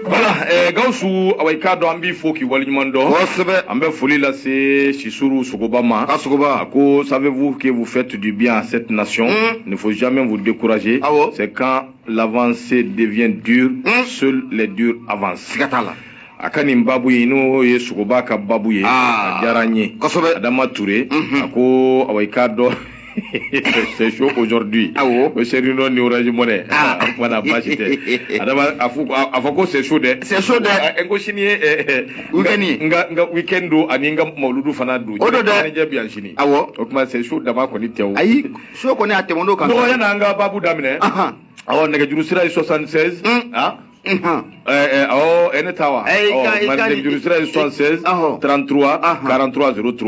voilà eh, gawusu awa i k'a dɔn an b'i fo k'i waleɲuman dɔn kosɛbɛ an bɛ foli lase sisuru sogoba ma a sogoba a ko savez-vous que vous faites du bien à cette nation mm. ne faut jamais vous décourager awo c'est quand l'avancée devient dure mm. seuls les durs avancent siga t'a la a ka nin babu ye n'o ye sogoba ka babu ye ah. a diyara n ye kosɛbɛ adama ture mm -hmm. a ko awa i k'a dɔn c'est chaud aujourd'hui ah bon o seri nɔ ni orange money ah o tuma na baasi tɛ adama a fɔ a fɔ ko c'est chaud dɛ c'est chaud dɛ ah, n ko sini ye eh, eh, weekend ye n ka n ka weekend don ani n ka mawuludu fana don o don dɛ ɲɛnajɛ bi yan sini awɔ o tuma c'est chaud dama kɔni tɛ o ayi chaud kɔni a tɛmɛn'o kan nɔgɔya n'an ka baabu daminɛ awɔ nɛgɛjuru sira ye 76 ah Ɔ e ne taa wa juru sira ye son sen trantu karantura s tu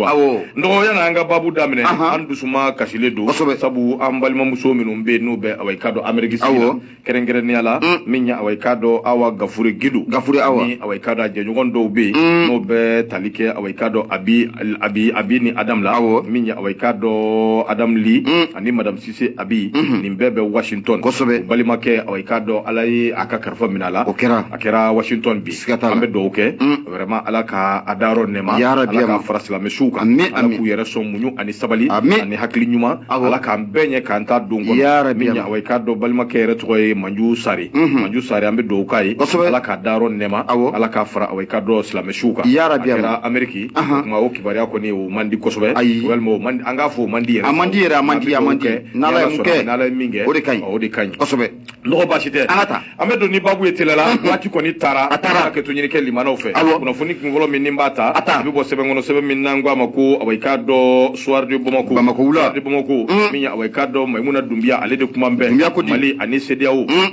nɔgɔya y'an ka baabu daminɛ an dusu kasilen don sabu an balimamuso minnu bɛ n'u bɛ a ka don anmeri kɛrɛnkɛrɛnya la min a ka dɔn aw gafure gdo gaf aw a ka a jɛɲɔgɔn dɔw bɛ yen n'o bɛ tali kɛ a ka dɔn a a a bɛ ni a aw min a ka dɔn a ani mada se abi nin bɛɛ bɛ washington kosɛbɛ balimakɛ awa i k'a dɔn ala ye a ka kalifa minɛ a la o kɛra a kɛra washington bi siga t'a la an bɛ dugawu kɛ vraiment ala k'a dayɔrɔ nɛma yarabi ala k'a fara silamɛsuw kan ami ala k'u yɛrɛ sɔn muɲu ani sabali ami ani hakili ɲuman ala k'an bɛɛ ɲɛ k'an ta don kɔnɔ yarabi min ye awa i k'a dɔn balimakɛ yɛrɛ tɔgɔ ye manju sari manju sari an bɛ dugawu k'a ye kosɛbɛ ala k'a dayɔrɔ nɛma ala k'a fara awa i k'a dɔn silamɛsuw kan yarabi a kɛra ameriki Ahan. o tuma o kibaruya kɔni o man di kosɛbɛ Ayi. walima o man di- an k'a fɔ o man di yɛrɛ A man di yɛrɛ, a man di, a man di. N'Ala N'ala ye mun kɛ, n'ala ye min kɛ o de ka ɲi. ɔ, o de ka ɲi kosɛbɛ nɔgɔ baasi tɛ An ka taa. an bɛ don ni babu ye teliya la waati kɔni taara A taara. an ka hakɛto ɲini kɛ lamɛnnaw fɛ Awɔ. kunnafoni kunfɔlɔ min ni n b'a ta A ta. a bɛ bɔ sɛbɛn kɔnɔ sɛbɛn min n'an k'a ma ko awa i k'a dɔn soir de bamako Bamako wula. Soir de bamako Mm. min ye awa i k'a dɔn mayimuna dunbiya ale de kuma bɛ Dunbiya ko di. mali ani sedeyawo Mm.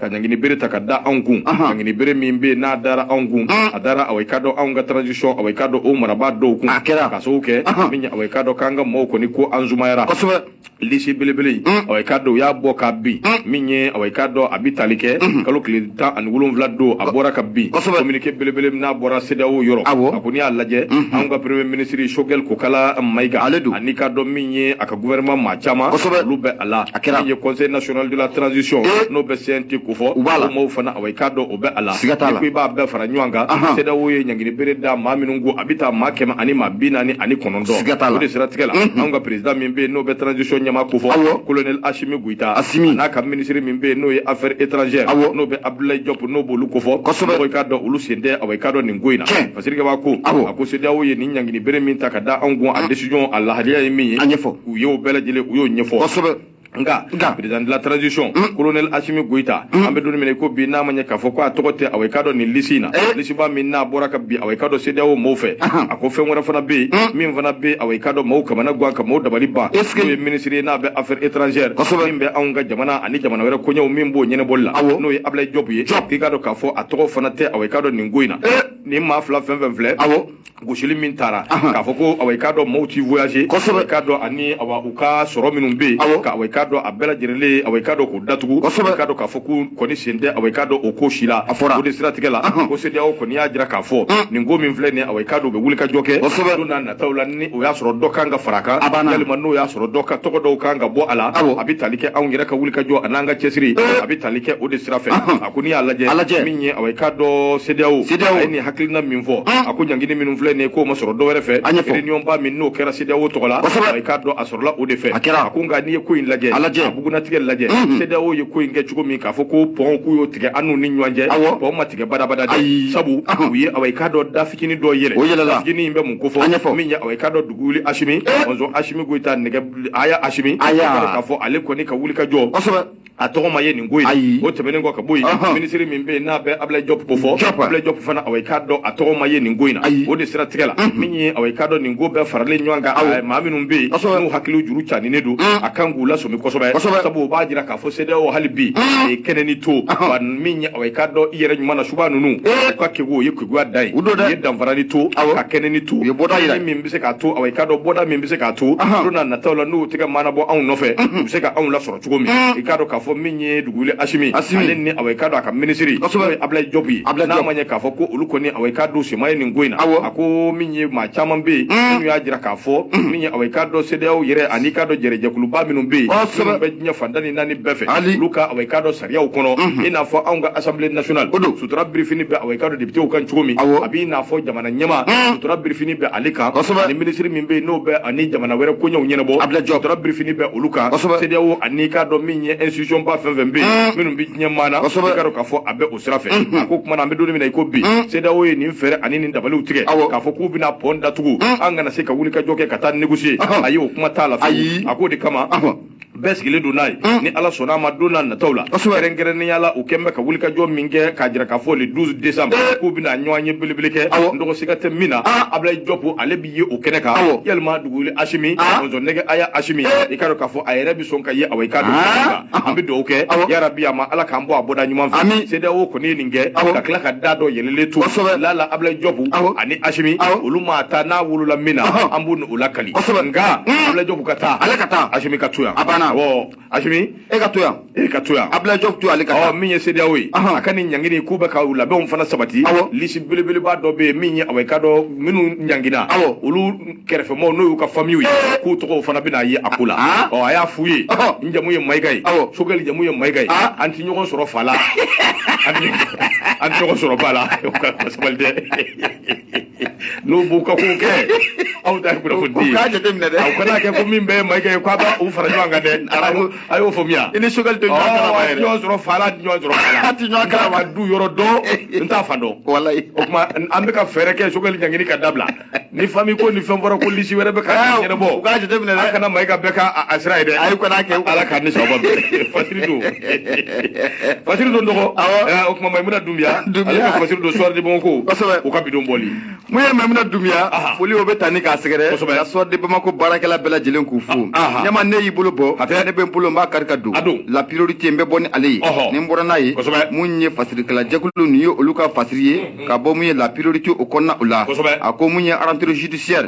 ka ɲangini bere ta ka da anw kun ɲangini bere min bɛ n'a dara anw kun a dara awa i k'a dɔn anw ka transition awa i k'a dɔn o marabaa dɔw kun a kɛra k'a sababu kɛ min ye awa i k'a dɔn k'an ka mɔgɔw kɔni ko an sumayara kosɛbɛ lisi belebele in awa i k'a dɔn u y'a bɔ kabi min ye awa i k'a dɔn a bi tali kɛ kalo tile tan ani wolonwula don a bɔra kabi communiqué belebele n'a bɔra CEDEAO yɔrɔ a ko n'i y'a lajɛ anw ka premier ministre Choguel Kokala Mayiga ale don ani i k'a dɔn min ye a ka gouvernement maa caman kosɛbɛ olu bɛ a la min ye conseil national de la transition eh. n'o bɛ CNT ko fɔ u b'a la maaw fana awa i k'a dɔn o bɛ a la siga t'a la i b'a bɛɛ fara ɲɔgɔn kan CEDEAO ye ɲangini bere da maa minnu kun a bɛ taa maa kɛmɛ ani maa bi naani ani kɔnɔntɔn siga t'a la o de siratigɛ la mm-hmm. anw ka président min bɛ yen n'o bɛ transition ɲɛmaa ko fɔ colonel Asimi Goyita Asimi n'a ka ministre min bɛ yen n'o ye affaires étrangères awɔ n'o bɛ Abdoulaye Diop n'o b'olu ko fɔ kosɛbɛ i k'a dɔn olu sen tɛ awa i k'a dɔn nin ko in na Masirikɛba ko a ko CEDEAO ye nin ɲangini bere min ta ka da anw kun a ah. décision a lahalaya ye min ye a ɲɛfɔ u ye o bɛɛ lajɛlen u y'o ɲɛfɔ kosɛbɛ nka nka président de la transition mm. colonel Assimi Goïta mm. an bɛ don min na i ko bi n'a ma ɲɛ k'a fɔ ko a tɔgɔ tɛ awa i k'a dɔn nin lisi in na eh. lisiba min n'a bɔra kabi awa i k'a dɔn CEDEAO mɔɔw fɛ a ko fɛn wɛrɛ fana bɛ yen mm. min fana bɛ awa i k'a dɔn mɔɔw kamanagan ka mɔɔw dabali ban n'o ye minisiri ye n'a bɛ affaires étrangères min bɛ anw ka jamana ani jamana wɛrɛ koɲɛw min b'o ɲɛnabɔli la n'o ye Ablaye Diop ye k'i k'a dɔn k'a fɔ a tɔgɔ fana tɛ awa i k'a dɔn nin n ko in na eh. nin maa fila fɛn fɛn filɛ awɔ gosili min tara k'a fɔ ko awa i k'a dɔn maaw ti voyager kosɛbɛ i k'a dɔn ani awa u ka sɔrɔ minnu bɛ yen awɔ awa i k'a dɔn a bɛɛ lajɛlen awa i k'a dɔn k'u datugu kosɛbɛ i k'a dɔn k'a fɔ k'u kɔni sen tɛ awa i k'a dɔn o ko si la a fɔra o de siratigɛ la ko CEDEAO kɔni y'a jira k'a fɔ mm. nin ko min filɛ nin ye awa i k'a dɔn u bɛ wulikajɔ kɛ kosɛbɛ don na nataw la ni o y'a sɔrɔ dɔ kan ka fara a kan a banna yalima n'o y'a sɔrɔ dɔ ka tɔgɔ dɔw kan ka bɔ a la awɔ a bɛ tali kɛ anw yɛrɛ ka wulikajɔ an'anw ka cɛsiri eh. a bɛ tali kɛ o de sira fɛ a ko n'i y'a lajɛ a lajɛ min ye awɔ i k'a dɔn CEDEAO CEDEAO a ye nin hakilina min fɔ a ko ɲangini minnu filɛ nin ye k'o ma sɔrɔ dɔ wɛrɛ fɛ a ɲɛfɔ réunion ba min n'o kɛra CEDEAO tɔgɔ la kosɛbɛ i k'a dɔn a sɔrɔla o de fɛ a kɛra a ko nka n'i ye ko in lajɛ a lajɛ a bugunnatigɛ lajɛ CEDEAO ye ko in kɛ cogo min k'a fɔ ko pɔn k'u y'o tigɛ an n'u ni ɲɔgɔn cɛ awɔ pɔn ma tigɛ badabada dɛ sabu u ye awɔ i k'a dɔn da fitini dɔ yɛlɛ o yɛlɛla fitini in bɛ mun ko fɔ a ɲɛfɔ min ye awɔ i k'a dɔn dugu wuli Asimi mɔnzɔn Asimi Goyita nɛgɛhaya Asimi a y'a k'a fɔ ale kɔni ka wulikajɔ kosɛbɛ a tɔgɔ ma ye nin ko in o tɛmɛnen kɔ ka bɔ yen minisiri min bɛ yen n'a bɛ abulayi jɔp ko fɔ abulayi jɔp fana awa i k'a dɔn a tɔgɔ ma ye nin ko in na o de siratigɛ la min ye awa i k'a dɔn nin ko bɛɛ faralen ɲɔgɔn kan awa maa minnu bɛ yen n'u hakili juru caninen don a kan k'u lasɔmi kosɛbɛ sabu o b'a jira k'a fɔ CEDEAO hali bi a ye kɛnɛnin to wa min ye awa i k'a dɔn i yɛrɛ ɲuman na suba ninnu u ka kegun o ye keguya dan ye u ye danfaranin to ka kɛnɛnin to u ye bɔda yira min bɛ se k'a to awa i k'a dɔn bɔda min bɛ se k'a to don na nataw la n'u tɛgɛ mana bɔ anw nɔfɛ u bɛ se ka anw lasɔrɔ cogo min mm. i k'a dɔn k'a fɔ min ye dugu wuli asimi ale ni awa i k'a dɔn a ka minisiri n'o ye abulayi jɔpu ye n'a ma ɲɛ k'a fɔ ko olu kɔni awa i k'a dɔn sen ma ye nin ko in na a ko min ye maa caman bɛ yen mm. minnu y'a jira k'a fɔ mm. min ye awa i k'a dɔn sedeyawo yɛrɛ ani i k'a dɔn jɛrɛjɛkuluba minnu bɛ yen minnu bɛ diɲɛ fan tan ni naani bɛɛ fɛ olu ka awa i k'a dɔn sariyaw kɔnɔ mm-hmm. i n'a fɔ anw ka assemblée nationale sutura birifini bɛ awa i k'a dɔn depitew kan cogo min a b'i n'a fɔ jamana na ɲɛmaa hmm. sutura birifini bɛ ale kan kosɛbɛ ani minisiri min bɛ yen n'o bɛ an ni jamana wɛrɛ koɲɛw ɲɛnabɔ abulayi jɔp sutura birifini bɛ olu kan kosɛbɛ sedeyawo ani i k'a dɔn min ye institution ba fɛn fɛn bɛ yen hmm. minnu bɛ diɲɛ maa na kosɛbɛ i k'a dɔn k'a fɔ a bɛ o sira fɛ hmm. a ko kuma na an bɛ don min na i ko bi sedeyawo ye nin fɛɛrɛ ani nin dabaliw tigɛ k'a fɔ k'u bɛna pɔn datugu an kana se ka wulikajɔ kɛ ka taa négocier ayi o kuma t'a la ayi a k'o de kama bɛɛ sigilen don n'a ye ni ala sɔnna a ma don n'a nataw la kɛrɛnkɛrɛnnenya la u kɛn bɛ ka wulikajɔ min kɛ k'a jira k'a fɔ le 12 décembre k'u bɛna ɲɔgɔnye belebele kɛ n dɔgɔ siga tɛ min na abulayi jɔpu ale bɛ ye o kɛnɛ kan yalima duguli asimi mɔzɔnnɛgɛ aya asimi i k'a dɔn k'a fɔ a yɛrɛ bɛ sɔn ka ye awa i k'a dɔn an bɛ dugawu kɛ yarabi a ma ala k'an bɔ a bɔda ɲuman fɛ CEDEAO kɔni ye nin kɛ ka tila ka da dɔ yɛlɛlen to lala abulayi jɔpu ani asimi olu ma taa n'a wolola min na an b'u o lakali kosɛbɛ nka abdulayi jɔbu ka taa ale ka taa asimi ka to yan a banna awɔ asimi e ka to yan e ka to yan abdulayi jɔbu to ale ka taa min ye CEDEAO ye a ka nin ɲangini k'u bɛ ka u labɛnw fana sabati awɔ lisi belebeleba dɔ bɛ yen min ye awɔ i k'a dɔn minnu ɲangina awɔ olu kɛrɛfɛmɔgɔw n'o y'u ka famiw ye k'u tɔgɔw fana bɛna ye a ko la ɔ a y'a f'u ye n jamu ye mayiga ye awɔ sogɛli jamu ye mayiga ye an tɛ ɲɔgɔn sɔrɔ fa la an tɛ ɲɔgɔn sɔrɔ ba la sabali dɛ n'u b'u ka ko kɛ aw ta ye kunnafoni di ye u k'a jateminɛ dɛ aw kana kɛ ko min bɛɛ ye Mayiga ye k'a b'a u fara ɲɔgɔn kan dɛ a y'o faamuya i ni Sogɛli tɛ ɲɔgɔn kalama yɛrɛ ɲɔgɔn sɔrɔ fa la ɲɔgɔn sɔrɔ fa la a tɛ ɲɔgɔn kalama n t'a fa du yɔrɔ dɔn n t'a fa dɔn walayi o tuma an bɛ ka fɛɛrɛ kɛ Sogɛli ɲangini ka dabila ni fami ko ni fɛn fɔra ko lisi wɛrɛ bɛ ka ɲɛnabɔ u k'a jateminɛ dɛ a kana Mayiga bɛɛ ka a sira ye dɛ ayi o kana kɛ ala k'an ni sababu bɛn fasiri don fasiri don dɔgɔ eh, o tuma maimuna dunbiya ale ka fasiri don Soir de Bamako u ka bi don bɔli mun ye maimuna dunbiya foli o bɛ taa ni k'a sɛgɛrɛ ka Soir de Bamako baarakɛla bɛɛ lajɛlen k'u fo ɲɛma n'e y'i bolo bɔ ne bɛ n bolo n b'a kari ka don la priorité n bɛ bɔ ni ale ye ni n bɔra n'a ye mun ye fasirikɛla jɛkulu nin ye olu ka fasiri ye mm, mm. ka bɔ mun ye la priorité o kɔnɔna o la a ko mun ye rentrée judiciaire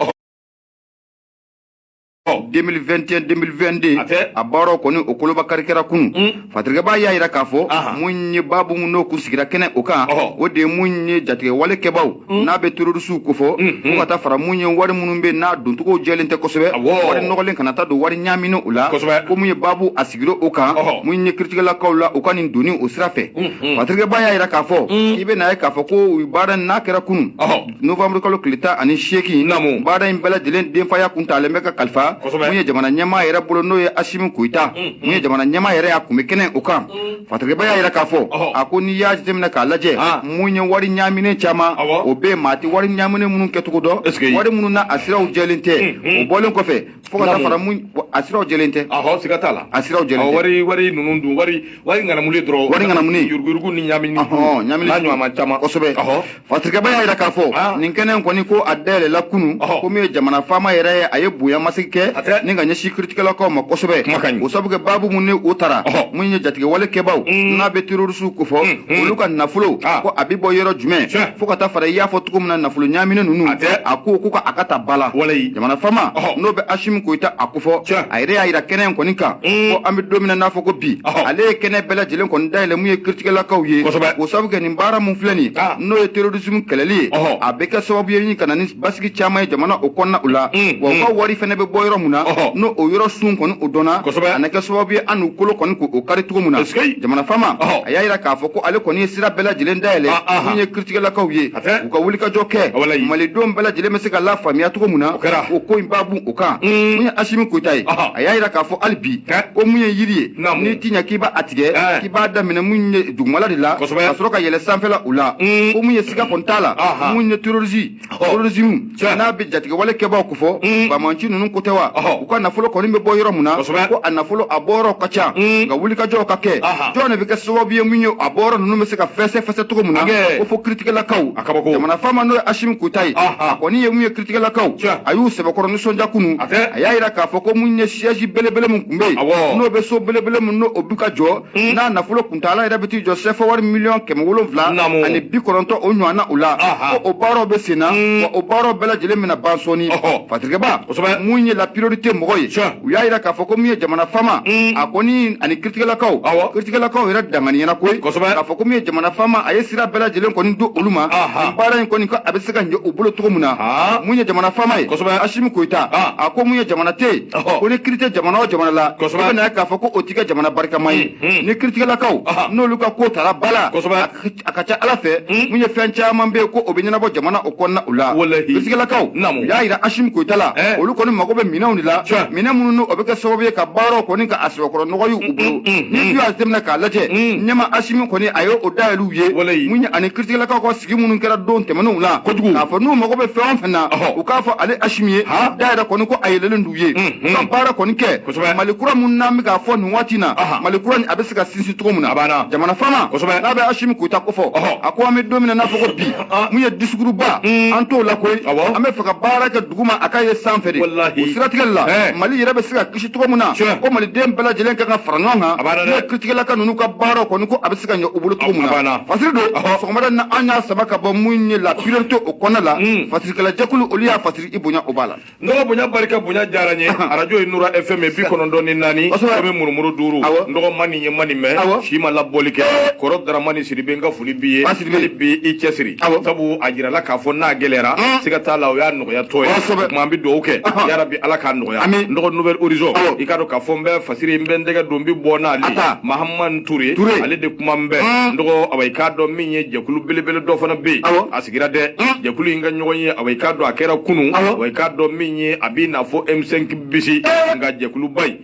2021 2022 a tɛ. a baaraw kɔni o koloba kari kɛra kunu Mm. fatirikɛbaa y'a jira k'a fɔ Aha. mun ye baabu mun n'o kun sigira kɛnɛ o kan Ɔhɔ. o de ye mun ye jatigɛwale kɛbaaw Mm. n'a bɛ terorisiw kofɔ Mhm. fo ka taa fara mun ye wari minnu bɛ n'a doncogo jɛlen tɛ kosɛbɛ Awɔ. wari nɔgɔlen kana taa don wari ɲaamini o la Kosɛbɛ. ko mun ye baabu a sigira o kan Ɔhɔ. mun ye kiritigɛlakaw la u ka nin donni o sira fɛ Mhm. fatirikɛbaa y'a jira k'a fɔ Mm. k'i bɛn'a ye k'a fɔ ko u baara in n'a kɛra kunu Ɔhɔ. novembre kalo tile tan ani seegin namu baara in bɛɛ lajɛlen denfaya kun talen bɛ ka kalifa mun ye jamana ɲɛmaa yɛrɛ bolo n'o ye asimi koyita mun mm, mm. ye jamana ɲɛmaa yɛrɛ y'a kun bɛ kɛnɛ o kan mm. fatirikɛba y'a yira k'a fɔ a ko n'i y'a jateminɛ k'a lajɛ ah. mun ye wari ɲaaminen caman o bɛ maa tɛ wari ɲaaminen minnu kɛcogo dɔn wari minnu nasiraw jɛlen tɛ o bɔlen kɔfɛ fo ka taa fara mun a siraw jɛlen tɛ ahɔ siga t'a la a siraw jɛlen tɛ wari wari ninnu dun wari wari ŋanamuli dɔrɔn wari ŋanamuli yuruguyurugu ni ɲamini n'a ɲɔgɔnma caman kosɛbɛ ahɔ fatirikɛba y'a jira k'a fɔ ah. nin kɛnɛ kɔni ko a dayɛlɛla kunu ko min ye jamana faama yɛrɛ ye a ye bonya masegin kɛ ni ka ɲɛsin kiritigɛlakaw ma kosɛbɛ o sabu kɛ baabu mun ni o tara mun ye jatigɛwale kɛbaw mm. n'a bɛ terorisiw kofɔ mm, mm. olu ka nafolo ah. ko a bɛ bɔ yɔrɔ jumɛn fo ka taa fara i y'a fɔ cogo min na nafolo ɲamini ninnu a ko ko ka a ka ta ba la jamana faama n'o bɛ asimi koyita a kofɔ a yɛrɛ y'a jira kɛnɛ in kɔni kan mm. ko an bɛ don min na n'a fɔ ko bi ale ye kɛnɛ bɛɛ lajɛlen kɔni dayɛlɛ mun ye kiritigɛlakaw ye o sabu kɛ nin baara min filɛ nin ah. n'o ye terorismu kɛlɛli ye a bɛ kɛ sababu ye ni ka na ni basigi caman ye jamana o kɔnɔna o la mm, wa u mm. ka wari fɛnɛ bɛ bɔ yɔrɔ min na n'o o yɔrɔ sun kɔni o dɔnna a na kɛ sababu ye an n'u kolo kɔni k'o kari cogo min na jamana faama a y'a jira k'a fɔ ko ale kɔni ye sira bɛɛ lajɛlen dayɛlɛ ah, ah, mun ye kiritigɛlakaw ye u ka wulikajɔ kɛ malidenw bɛɛ lajɛlen bɛ se ka lafaamuya cogo min na o ko in b'a bun o kan mm. mun ye asimi koyita ye a y'a jira k'a fɔ hali bi ko mun ye yiri ye n'i t'i ɲɛ k'i b'a a tigɛ k'i b'a daminɛ mun ye dugumala de la ka sɔrɔ ka yɛlɛ sanfɛla o la mm. ko mun ye siga kɔni t'a la mun ye terorisi terorisimu Tiɲɛ. n'a bɛ jatigɛwale kɛbaaw kofɔ Mm. bamanci ninnu ko tɛ wa Ɔhɔ. u ka nafolo kɔni bɛ bɔ yɔrɔ min na Kosɛbɛ. ko a nafolo a bɔyɔrɔ ka ca Mm. nka wulikajɔw ka kɛ Aha. jɔn de bɛ kɛ sababu ye mun ye a bɔyɔrɔ ninnu bɛ se ka fɛsɛfɛsɛ cogo min na Hakɛ. ko fo kiritigɛlakaw A kabako. jamana faama n'o ye asimi koyita ye Aha. a kɔni ye mun ye kiritigɛlakaw Tiɲɛ. a y'u sɛbɛkɔrɔ nisɔndiya kunun A tɛ. a y'a jira k'a fɔ ko mun ye siège belebele min tun bɛ yen Awɔ. n'o bɛ so belebele min n'o o bɛ ka jɔ Hmm. n'a nafolo kuntaala yɛrɛ bɛ t'i jɔ sɛfa wari miliyɔn kɛmɛ wolonwula ani bi kɔnɔntɔn o ɲɔgɔnna o la ko o baaraw bɛ sen na hmm. wa o baaraw bɛɛ lajɛlen bɛna ban sɔɔni fatirikɛba mun ye la priorité mɔgɔ ye u y'a jira k'a fɔ ko mun ye jamana faama hmm. a kɔni ani kiritigɛlakaw kiritigɛlakaw yɛrɛ danganiyana koyi k'a fɔ ko min ye jamana faama a ye sira bɛɛ lajɛlen kɔni don olu ma nin baara in kɔni ko a bɛ se ka ɲɛ u bolo cogo min na mun ye jamana faama ye asimi koyita a ko mun ye jamana tɛ yen ko ni kiri tɛ jamana o jamana la i bɛ na k'a fɔ ko o tɛ kɛ jamana barikama ye ni kiritigɛlakaw n'olu ka ko tara ba la a ka ca ala fɛ mun ye fɛn caman bɛ yen ko o bɛ ɲɛnabɔ jamana o kɔnɔna o la kiritigɛlakaw u y'a jira asimi koyita la olu kɔni mago bɛ minɛnw de la minɛn minnu o bɛ kɛ sababu ye ka baaraw kɔni ka a sɛbɛkɔrɔ nɔgɔy'u bolo n'i y'a jateminɛ k'a lajɛ ɲɛma asimi kɔni a ye o dayɛlɛw ye mun ye ani kiritigɛlakaw ka sigi minnu kɛra don tɛmɛnenw la kojugu k'a fɔ n'u mago bɛ fɛn o fɛn na u k'a fɔ ale asimi ye da yɛrɛ kɔni ko a yɛlɛlen d'u ye u ka baara kɔni kɛ mali kura min n'an bɛ k'a fɔ nin waati na mali kura nin a bɛ se ka sinsin cogo min na jamana faama n'a bɛ asimi koyita kofɔ a ko an bɛ don min na n'a fɔ ko bi mun ye discours ba an t'o la koyi an b'a fɛ ka baara kɛ duguma a k'a ye sanfɛ de o siratigɛ le la mali yɛrɛ bɛ se ka kisi cogo min na ko maliden bɛɛ lajɛlen kan ka fara ɲɔgɔn kan n'o kiritigɛlaka ninnu ka baara kɔni ko a bɛ se ka ɲɛ u bolo cogo min na fasiri don sɔgɔmada na an y'a saba ka bɔ mun ye la priorité o kɔnɔna la hmm. fasirikɛlajɛkulu olu y'a fasiri i bonya o b'a la n dɔgɔ bonya barika bonya diyara n ye arajo ye nura fm ye bi kɔnɔntɔn ni naani kɔmi murumuru duuru n dɔgɔ ma nin ye ma nin mɛn si ma labɔli kɛ eh. kɔrɔ daramani sidibe n ka foli b'i ye hali bi i cɛsiri sabu a jirala k'a fɔ n'a gɛlɛyara hmm. siga t'a la o y'a nɔgɔya tɔ ye o tuma an bɛ dugawu kɛ yarabi ala k'a nɔgɔya n dɔgɔ nouvel horizon i k'a dɔn k'a fɔ n bɛ fasiri n bɛ n tɛgɛ don n bɛ bɔ n'ale mahamani ture ale de kuma n bɛ n dɔgɔ awa i k'a dɔn min ye jɛkulu belebele dɔ fana bɛ yen a sigira dɛ jɛkulu in ka ɲɔgɔn ye awa i k'a dɔn a kɛra kunun awa i k'a dɔn min ye a b'i n'a fɔ m5 bisi nka jɛkuluba in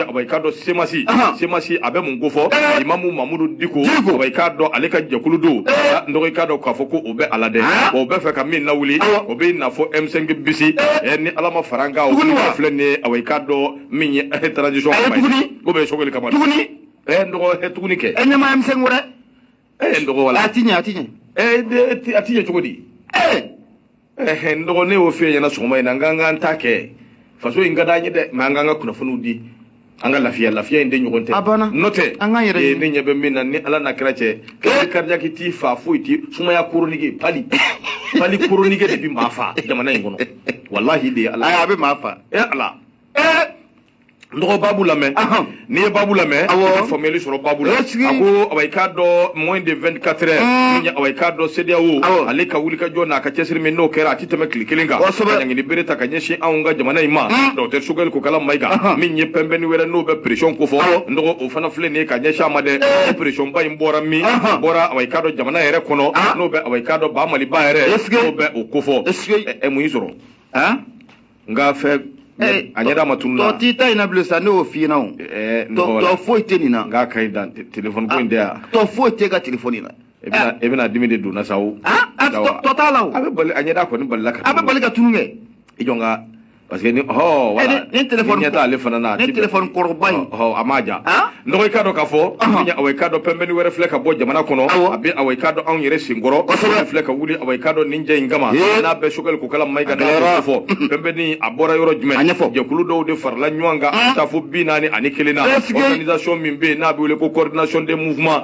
awa i k'a dɔn semasi semasi a bɛ mun ko fɔ imamu mamudu diko awa i k'a dɔn ale ka jɛkulu don n dɔgɔ i k'a dɔn k'a fɔ ko o bɛ a la dɛ o bɛ fɛ ka min lawuli o bɛ n'a fɔ m5 bisi eh. ni ala ma fara an kan o filɛ nin ye awa i k'a dɔn min ye transition kama ye o bɛ sogɛli kama tuguni ɛ n dɔgɔ ɛ tuguni kɛ ɛ ɲɛmaa m5 wɛrɛ ɛ n dɔgɔ wala a ti ɲɛ a ti ɲɛ ɛ a ti ɲɛ cogo di ɛ ɛ n dɔgɔ ne y'o f'i ɲɛna sɔgɔma in na an k'an k'an ta kɛ faso in ka d'an ye dɛ mɛ an k'an ka kunnafoniw di an ka lafiya lafiya in de ɲɔgɔn tɛ a banna n'o tɛ an k'an yɛrɛ ɲini ne ɲɛ bɛ min na ni ala n'a kira cɛ kari cardiaque t'i fa foyi ti sumaya chronique palu palu chronique de bi maa fa jamana in kɔnɔ walahi de ye ala a bɛ maa fa e ala n dɔgɔ babu lamɛn n'i ye babu lamɛn ka faamuyali sɔrɔ babu la a ko awa i k'a dɔn moins de 24 heures awa i k'a dɔn CEDEAO ale ka wulikajɔ n'a ka cɛsiri min n'o kɛra a tɛmɛ tile kelen kan kosɛbɛ ka ɲangini bere ta ka ɲɛsin anw ka jamana in ma hmm. docteur sogɛli kokala mayiga uh-huh. min ye pɛnpɛnni wɛrɛ n'o bɛ pression ko fɔ n dɔgɔ o fana filɛ nin ye ka ɲɛsin a ma dɛ eh. pression ba in bɔra min uh-huh. bɔra awa i k'a dɔn jamana yɛrɛ kɔnɔ ah. n'o bɛ awa i k'a dɔn ba maliba yɛrɛ n'o bɛ o ko fɔ ɛ mun y'i sɔrɔ nka fɛ eh, a ɲɛda ma tunun a tɔ t'i ta in na bilen sa ne y'o f'i ɲɛna o eh, tɔ foyi tɛ nin na nka ka ɲi dan telefɔni ko in tɛ yan tɔ foyi tɛ ka telefɔni na e bɛna dimi de donna sa o tɔ t'a la o a bɛ bali a ɲɛda kɔni balila ka tunu a bɛ bali ka tunu kɛ i jɔ n ka parce que ni hɔ wala ni telefɔni ɲɛ t'ale fana na ni telefɔni kɔrɔba in hɔ a m'a ja n dɔgɔ i k'a dɔn k'a fɔ awa i k'a dɔn pɛnpɛnni wɛrɛ filɛ ka bɔ jamana kɔnɔ a bɛ awa i k'a dɔn anw yɛrɛ senkɔrɔ o filɛ ka wuli awa i k'a dɔn nin cɛ in kama n'a bɛ sogɛli kokala mayiga n'a fɔ pɛnpɛnni a bɔra yɔrɔ jumɛn a ɲɛfɔ jɛkulu dɔw de farala ɲɔgɔn kan ka taa fo bi naani ani kelen na organisation min bɛ yen n'a bɛ wele ko coordination des mouvements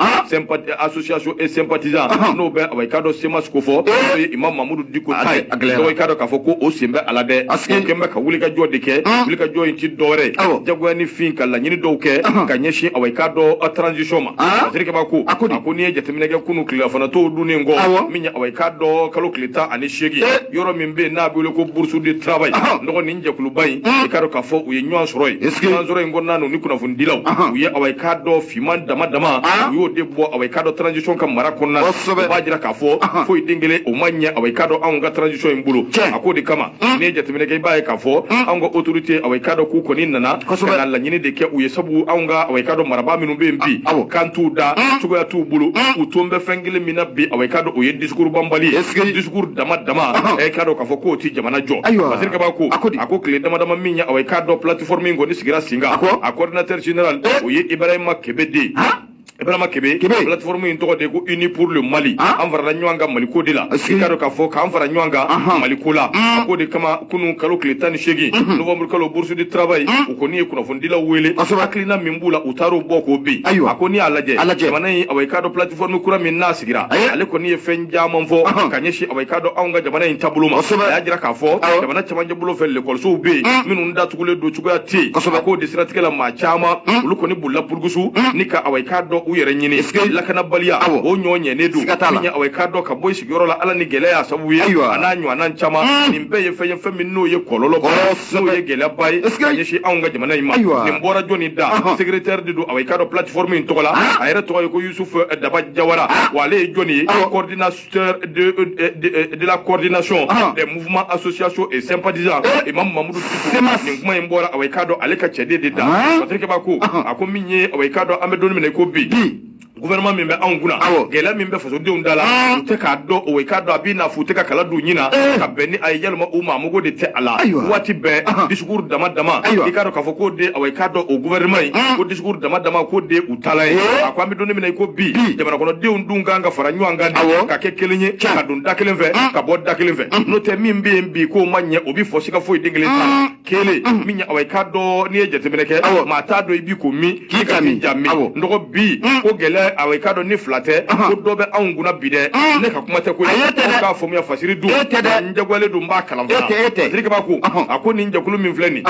associations et sympathisants n'o bɛ awa i k'a dɔn semas ko fɔ n'o ye imam mamudu diko ta ye n dɔgɔ i k'a dɔn k'a fɔ ko o sen bɛ a la dɛ o kɛn bɛ ka wulikajɔ de kɛ wulikajɔ in ti dɔwɛrɛ ye jagoya ni fin ka laɲini dɔw kɛ ka ɲɛsin awa i k'a dɔn transition ma fasirikɛba ko a ko n'i ye jateminɛ kɛ kunu tilelafana to dunnen kɔ min ye awa i k'a dɔn kalo tile tan ani seegin yɔrɔ min bɛ yen n'a bɛ wele ko bourse de travail n dɔgɔ nin jɛkuluba in i k'a dɔn k'a fɔ u ye ɲɔgɔn sɔrɔ yen ɲɔgɔn sɔrɔ in kɔnɔna na u ni kunnafonidilaw u ye awa i k'a dɔn finman dama dama u y'o de bɔ awa i k'a dɔn transition ka mara kɔnɔna na u b'a jira k'a fɔ foyi den kelen o ma ɲɛ awa i k'a dɔn anw ka transition in bolo a k'o de kama n'i ye jateminɛ kɛ i b'a ye k'a fɔ anw ka autorité awa i k'a dɔn k'u kɔni nana ka na laɲini de kɛ u ye sabu anw ka awa i k'a dɔn marabaa minnu bɛ yen bi kan t'u da cogoya t'u bolo u tun bɛ fɛn kelen min na bi awa i k'a dɔn o ye discours banbali ye discours dama dama e k'a dɔn k'a fɔ k'o tɛ jamana jɔ masiri kabako a ko tile damadama min ye awa i k'a dɔn plateforme in kɔni sigira sen kan a coordinateur général o ye ibrahima kebe de ibrahima kebe plateforme in tɔgɔ de ko unis pour le mali an farala ɲɔgɔn kan mali ko de la i k'a dɔn k'a fɔ k'an fara ɲɔgɔn kan mali ko la a ko de kama kunu kalo tile tan ni seegin novembre kalo bourse du travail u kɔni ye kunnafonidilaw wele hakilina min b'u la u taar'o bɔ ko bi a ko n'i y'a lajɛ jamana in awa i k'a dɔn plateforme kura min n'a sigira ale kɔni ye fɛn caman fɔ ka ɲɛsin k'a dɔn anw ka jamana in taabolo ma a y'a jira k'a fɔ jamana cɛmancɛ bolo fɛ lekɔlisow bɛ yen mm. minnu datugulen don cogoya tɛ yen a k'o de siratigɛ la maa caman mm. olu kɔni bolila burukusu mm. ni ka awa i k'a dɔn u yɛrɛ ɲini lakanabaliya o ɲɔ ɲɛnen don min ye awa i k'a dɔn ka bɔ i sigiyɔrɔ la ala ni gɛlɛya y'a sababu ye a n'a ɲɔgɔnna caman nin bɛɛ ye fɛn ye fɛn min n'o ye kɔlɔlɔ n'o ye gɛlɛyaba ye ka ɲɛsin anw ka jamana in ma nin bɔra jɔni da uh-huh. secrétaire de don awa i k'a dɔn plateforme in tɔgɔ la ah. a yɛrɛ tɔgɔ ye ko yusufu daba jawara ah. wa ale ye jɔni ye coordinateur coordinateur de, euh, euh, de, la coordination ah. des mouvements associations et sympathisants eh. imam mamudu diko nin kuma in bɔra awa i k'a dɔn ale ka cɛden de da patiri kabako a ko min ye awa i k'a dɔn an bɛ don min na i ko bi gouvernement min bɛ anw kunna gɛlɛya min bɛ fasodenw da la ah. u tɛ k'a dɔn awa i k'a dɔn a b'i n'a fɔ u tɛ ka kala don ɲin na eh. ka bɛn ni a ye walima u maa mago de tɛ a la waati bɛɛ ah. discours dama dama i k'a dɔn k'a fɔ k'o de awa i k'a dɔn o gouvernement in ko discours dama dama k'o de kala ye a ko an bɛ don min na i ko bi jamanakɔnɔdenw dun kan ka fara ɲɔgɔn kan ka kɛ kelen ye ka don da kelen fɛ ka bɔ da kelen fɛ n'o tɛ min bɛ yen bi k'o ma ɲɛ o bɛ fɔ sika foyi den kelen ta kelen min ye awa i k'a dɔn n'i ye jateminɛ kɛ maa t'a dɔn i bi ko min k'i ka min ja min nɔgɔ bi ko gɛlɛya awa i k'a dɔn ni fila tɛ ko dɔ bɛ anw kunna bi dɛ ne ka kuma tɛ ko ye k'a faamuya fasiri dun n jagoyalen don n b'a kalan fasiri kabako a ko nin jɛkulu min filɛ nin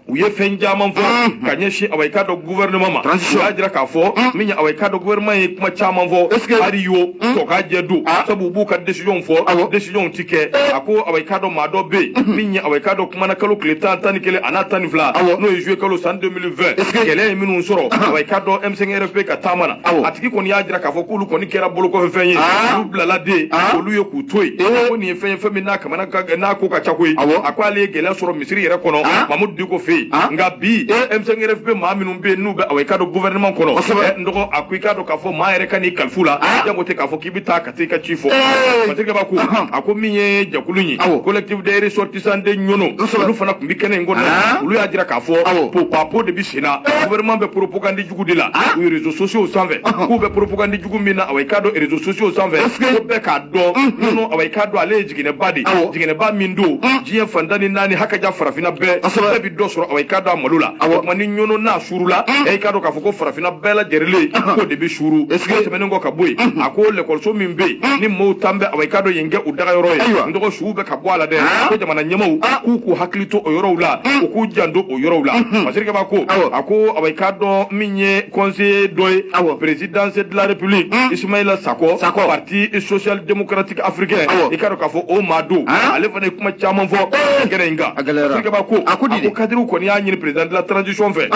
u ye fɛn caman fɔ mm. ka ɲɛsin awa i k'a dɔn gouvernement ma u y'a jira k'a fɔ mm. min ye awa i k'a dɔn gouvernement ye kuma caman fɔ ari yo mm. tɔ k'a jɛ don ah. sabu u b'u ka décision fɔ décision ti kɛ eh. a ko awa i k'a dɔn maa dɔ bɛ yen mm-hmm. min ye awa i k'a dɔn kuma na kalo tile tan tan ni kelen a n'a tan ni fila n'o ye juillet kalo san 2020 gɛlɛya ye minnu sɔrɔ ah. awa i k'a dɔn m5rfp ka taama na a tigi kɔni y'a jira k'a fɔ k'olu kɔni kɛra bolokɔfɛ fɛn ye ah. olu bilala de olu ye k'u to yen eh. ko nin ye fɛn ye fɛn min n'a kamana n'a ko ka ca koyi a ko ale ye gɛlɛya sɔrɔ misiri yɛrɛ kɔnɔ ah. mamudu diko fɛ yen ah. nka bi M5-RFP bɛ maa minnu bɛ yen n'u bɛ awa i k'a dɔn gouvernement kɔnɔ eh, n dɔgɔ a ko i k'a dɔn k'a fɔ maa yɛrɛ kan'i kalif'u la ah. jango tɛ k'a fɔ k'i bɛ taa ka taa i ka ci fɔ masirikɛba ko a ko min ye jɛkulu in ye collectif des ressortissants de ɲɔnɔ olu fana tun bɛ kɛnɛ in kɔnɔ olu y'a jira k'a fɔ popapo de bɛ sen na eh. gouvernement bɛ propagande jugu de la u ye réseaux sociaux sanfɛ k'u bɛ propagande jugu min na awa i k'a dɔn réseaux sociaux sanfɛ ko bɛɛ k'a dɔn ɲɔnɔ awa i k'a dɔn ale ye jiginɛba de jiginɛba min don hmm. diɲɛ fan tan ni naani hakaja farafinna bɛɛ bɛɛ bi dɔ sɔrɔ awa i k'a dɔn a malo la o tuma ni ɲɔnɔ n'a suurula hmm. ɛ i k'a dɔn k'a fɔ ko farafinna bɛɛ lajɛrɛlen hmm. k'o de bɛ suuru o tɛmɛnen kɔ ka bɔ yen a ko lɛkɔliso min bɛ yen ni maaw tan bɛ awa i k'a dɔn yen kɛ u dagayɔrɔ ye n dɔgɔ suw bɛ ka bɔ a la dɛ ko jamana ɲɛmaaw k'u k'u hakili to o yɔrɔw la u k'u janto o yɔrɔw la masirikɛba ko a ko awa i k'a dɔn min ye conseiller dɔ ye présidence de la république hmm. Ismaïla Sako Sako parti social démocratique africain i k'a dɔn k'a fɔ o maa don ah. ale fana ye kuma caman fɔ eh. kɛnɛ in kan masirikɛba ko a ko kadiriw kɔni y'a ɲini président de la transition fɛ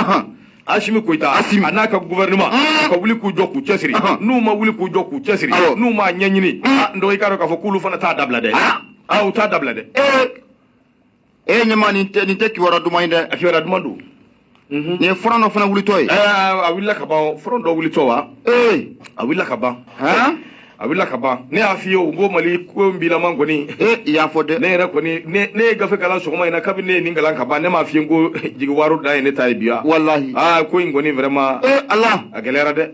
Asimi Koyita Asimi a n'a ka gouvernement ah. ka wuli k'u jɔ k'u cɛsiri ah. n'u ma wuli k'u jɔ k'u cɛsiri n'u m'a ɲɛɲini n dɔgɔ i k'a dɔn k'a fɔ k'olu fana t'a dabila dɛ u t'a dabila dɛ eh. e ɲama nin tɛ nin tɛ kibaruya duman ye dɛ a kibaruya duman don nin ye front dɔ fana wulitɔ ye a wulila ka ban front dɔ wulitɔ wa ee a wulila ka ban a wulila ka ban ne y'a f'i ye o ko mali ko n bilama kɔni i y'a fɔ dɛ ne yɛrɛ kɔni ne ye gafe kalan sɔgɔma in na kabini ne ye nin kalan ka ban ne m'a f'i ye ko jigiwaro dan ye ne ta ye bi wa walahi aa ko in kɔni vraiment ee ala a gɛlɛyara dɛ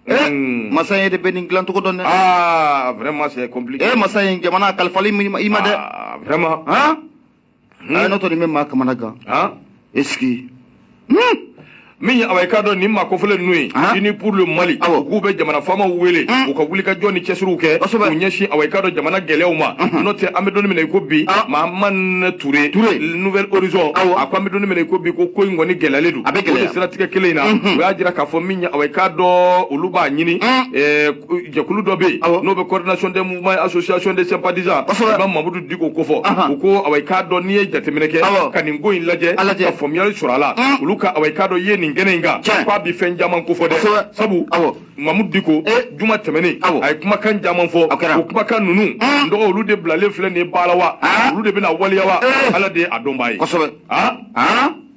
Eh, mm. masa e de bɛ nin dilan cogo dɔn dɛ. aa ah, vraiment c'est compliqué. ee eh, masa ye jamana kalifalen i ma dɛ. Ah, vraiment. han. Hmm. n'o tɛ nin bɛ maa kamana gan. han. est-ce que. Hmm. min ye awa i k'a dɔn nin maa kofɔlen ninnu ye uni pour le mali u k'u bɛ jamana faamaw wele hmm. u ka wulikajɔ ni cɛsiriw kɛ k'u ɲɛsin awa i k'a dɔn jamana gɛlɛyaw ma n'o tɛ an bɛ don in min na i ko bi mahamane ture nouvel horizon a ko an bɛ don in min na i ko bi ko ko in kɔni gɛlɛyalen don a bɛ gɛlɛya siratigɛ kelen in na u y'a jira k'a fɔ min i k'a dɔn olu b'a ɲini jɛkulu dɔ bɛ yen n'o bɛ coordination des mouvements association des sympathisants kosɛbɛ ba mamudu diko kofɔ u ko awa i k'a dɔn n'i ye jateminɛ kɛ ka nin ko in lajɛ ka faamuyali sɔrɔ a la olu ka awa i k'a dɔn yeli nin kɛnɛ in kan k'a bɛ fɛn caman kofɔ dɛ sabu mamudu diko juma tɛmɛnen a ye kumakan caman fɔ o kumakan ninnu n dɔgɔ olu de bilalen filɛ nin ye baara la wa olu de bɛna waleya wa ala de ye a dɔnbaa ye kosɛbɛ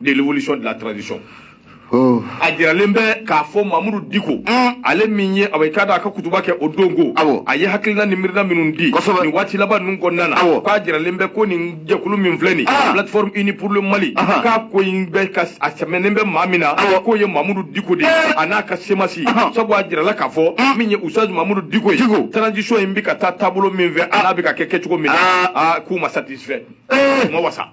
de l'évolution de la transition oh. a jiralen bɛ k'a fɔ mamudu diko mm. ale min ye awa i k'a dɔn a ka kutuba kɛ o don ko awɔ a ye hakilina ni miirina minnu di kosɛbɛ nin waati laban ninnu kɔnɔna na awɔ k'a jiralen bɛ ko nin jɛkulu min filɛ nin ah. plateforme uni pour le mali k'a ko in bɛ ka a sɛmɛnen bɛ maa min na awɔ k'o ye mamudu diko de ye eh. a n'a ka semasi sabu a jirala k'a fɔ mm. min ye oustaz mamudu diko ye transition in bɛ ka taa taabolo min fɛ a n'a bɛ ka kɛ kɛcogo min na ah. ah, k'u ma satisfait eh. u ma wasa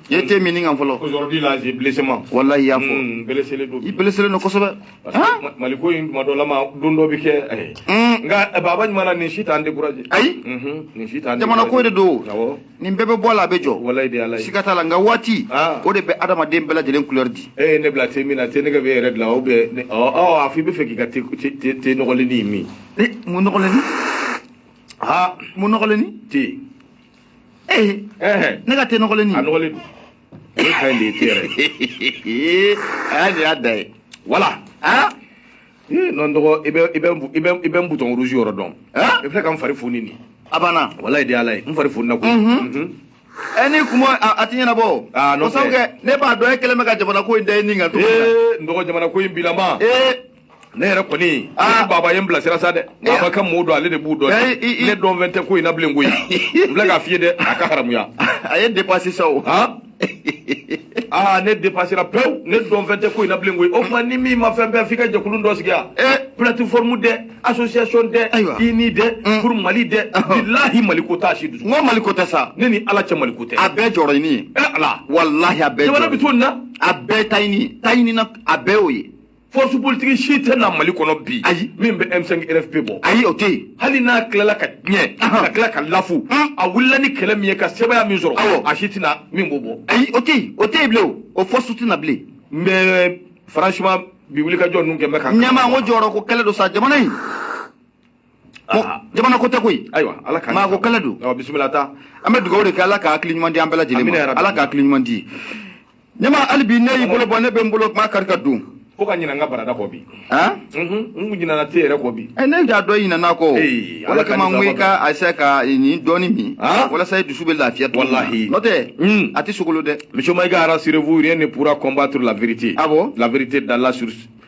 i ye te min nin kan fɔlɔ aujourd'hui là j'ai blessement wallahi y'a fɔ hmm, blesselen don i blesselen don kosɛbɛ mali ko in tuma dɔ la ma don dɔ bɛ kɛ eh. hmm. nka eh, baba ɲuman na nin si t'an décourager ayi mhm, nin si t'an jamana ko de don nin bɛɛ bɛ bɔ a la a bɛ jɔ wallahi de ala ye siga t'a la nka waati ah. o de bɛ adamaden bɛɛ lajɛlen couleur di e ye ne bila te min na te nege bɛ yɛrɛ de la aw bɛ ɔ a fɔ i bɛ fɛ k'i ka te nɔgɔlenni min mun nɔgɔlenni aa mun nɔgɔlenni te ee eh. ne ka te nɔgɔlen nin a nɔgɔlen don ne ka ɲi de ye te yɛrɛ a y'a nin y'a da ye wala aa ee non dɔgɔ i bɛ i bɛ i bɛ i bɛ n bouton rouge yɔrɔ dɔn i filɛ ka n fari foni nin a banna walayi de ala ye n fari foni na koyi ɛ ni kuma a ti ɲɛnabɔ o ko sabu kɛ ne b'a dɔn e kɛlen bɛ ka jamana ko in da i ni kan ee n dɔgɔ jamana ko in bilama ee ne yɛrɛ kɔni ah. baba ye n bilasira sa dɛ baba ka mɔɔw don ale de b'u dɔn eh, ne dɔn fɛn tɛ ko in na bilen koyi n filɛ k'a f'i ye dɛ a ka haramuya a ye dépassé sa o aa ah, ne dépasséra pewu ne dɔn fɛn tɛ ko in na bilen koyi o tuma ni min ma fɛn bɛɛ f'i ka jɛkulu dɔ sigi a eh. plateforme dɛ association dɛ unis dɛ mm. pour mali dɛ bilahi maliko t'a si dusu n ko maliko tɛ sa ne ni ala cɛ maliko tɛ a bɛɛ jɔyɔrɔ ɲini ye eh, ala walahi a bɛɛ jamana bɛ to nin na a bɛɛ ta ɲini ta ɲini na a bɛɛ y'o ye force politique si tɛ na mali kɔnɔ bi ayi min bɛ m5 rfp bɔ ayi o tɛ yen hali n'a tilala ka tiɲɛ ka tila ka lafu a wulila ni kɛlɛ min ye ka sɛbɛya min sɔrɔ awɔ a si tɛna min b'o bɔ ayi o tɛ yen o tɛ yen bilen o o force tɛna bilen mais franchement bi wulikajɔ ninnu kɛ n bɛ ka ɲɛma n ko jɔyɔrɔ ko kɛlɛ don sa jamana in jamana ko tɛ koyi ayiwa ala ka maa ko kala don awa bisimila ta an bɛ dugawu de kɛ ala ka hakili ɲuman di an bɛɛ lajɛlen ma ala ka hakili ɲuman di an ma hali bi ne y'i bolo bɔ ne bɛ n bolo kuma kari ka don fo ka ɲinɛ n ka barada kɔ bi n kun ɲinɛna te yɛrɛ kɔ bi ne y'a dɔn ɲinɛna kɔ o de kama n ko i ka essayer ka nin dɔɔni min walasa i dusu bɛ lafiya tɔ walahi n'o tɛ a tɛ sogolo dɛ monsieur mayiga rassurez-vous rien ne pourra combattre la vérité ah bon la vérité d'Allah sur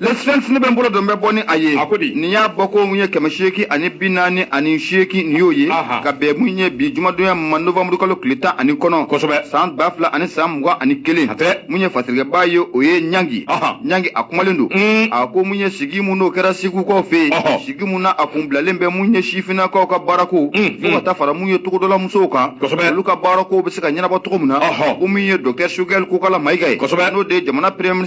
le sphinx ne bɛ n bolo don n bɛ bɔ ni a ye a ko di nin y'a bɔko mun ye kɛmɛ seegin ani bi naani ani seegin nin y'o ye ka bɛn mun ye bi jumadonya ma novanburu kalo tile tan ani kɔnɔntɔn kosɛbɛ san ba fila ani san mugan ani kelen mun ye fasirikɛbaa ye o ye ɲangi ɲangi a kumalen don mm. a ko mun ye sigi mun n'o kɛra segukaw fɛ yen sigi mun na a kun bilalen bɛ mun ye sifinnakaw ka baarako mm, fo ka mm. taa fara mun ye togodala musow kan olu ka baarako bɛ se ka ɲɛnabɔ cogo min na ko mun ye docteur sogɛli kokala mayiga ye n'o de ye jamana premier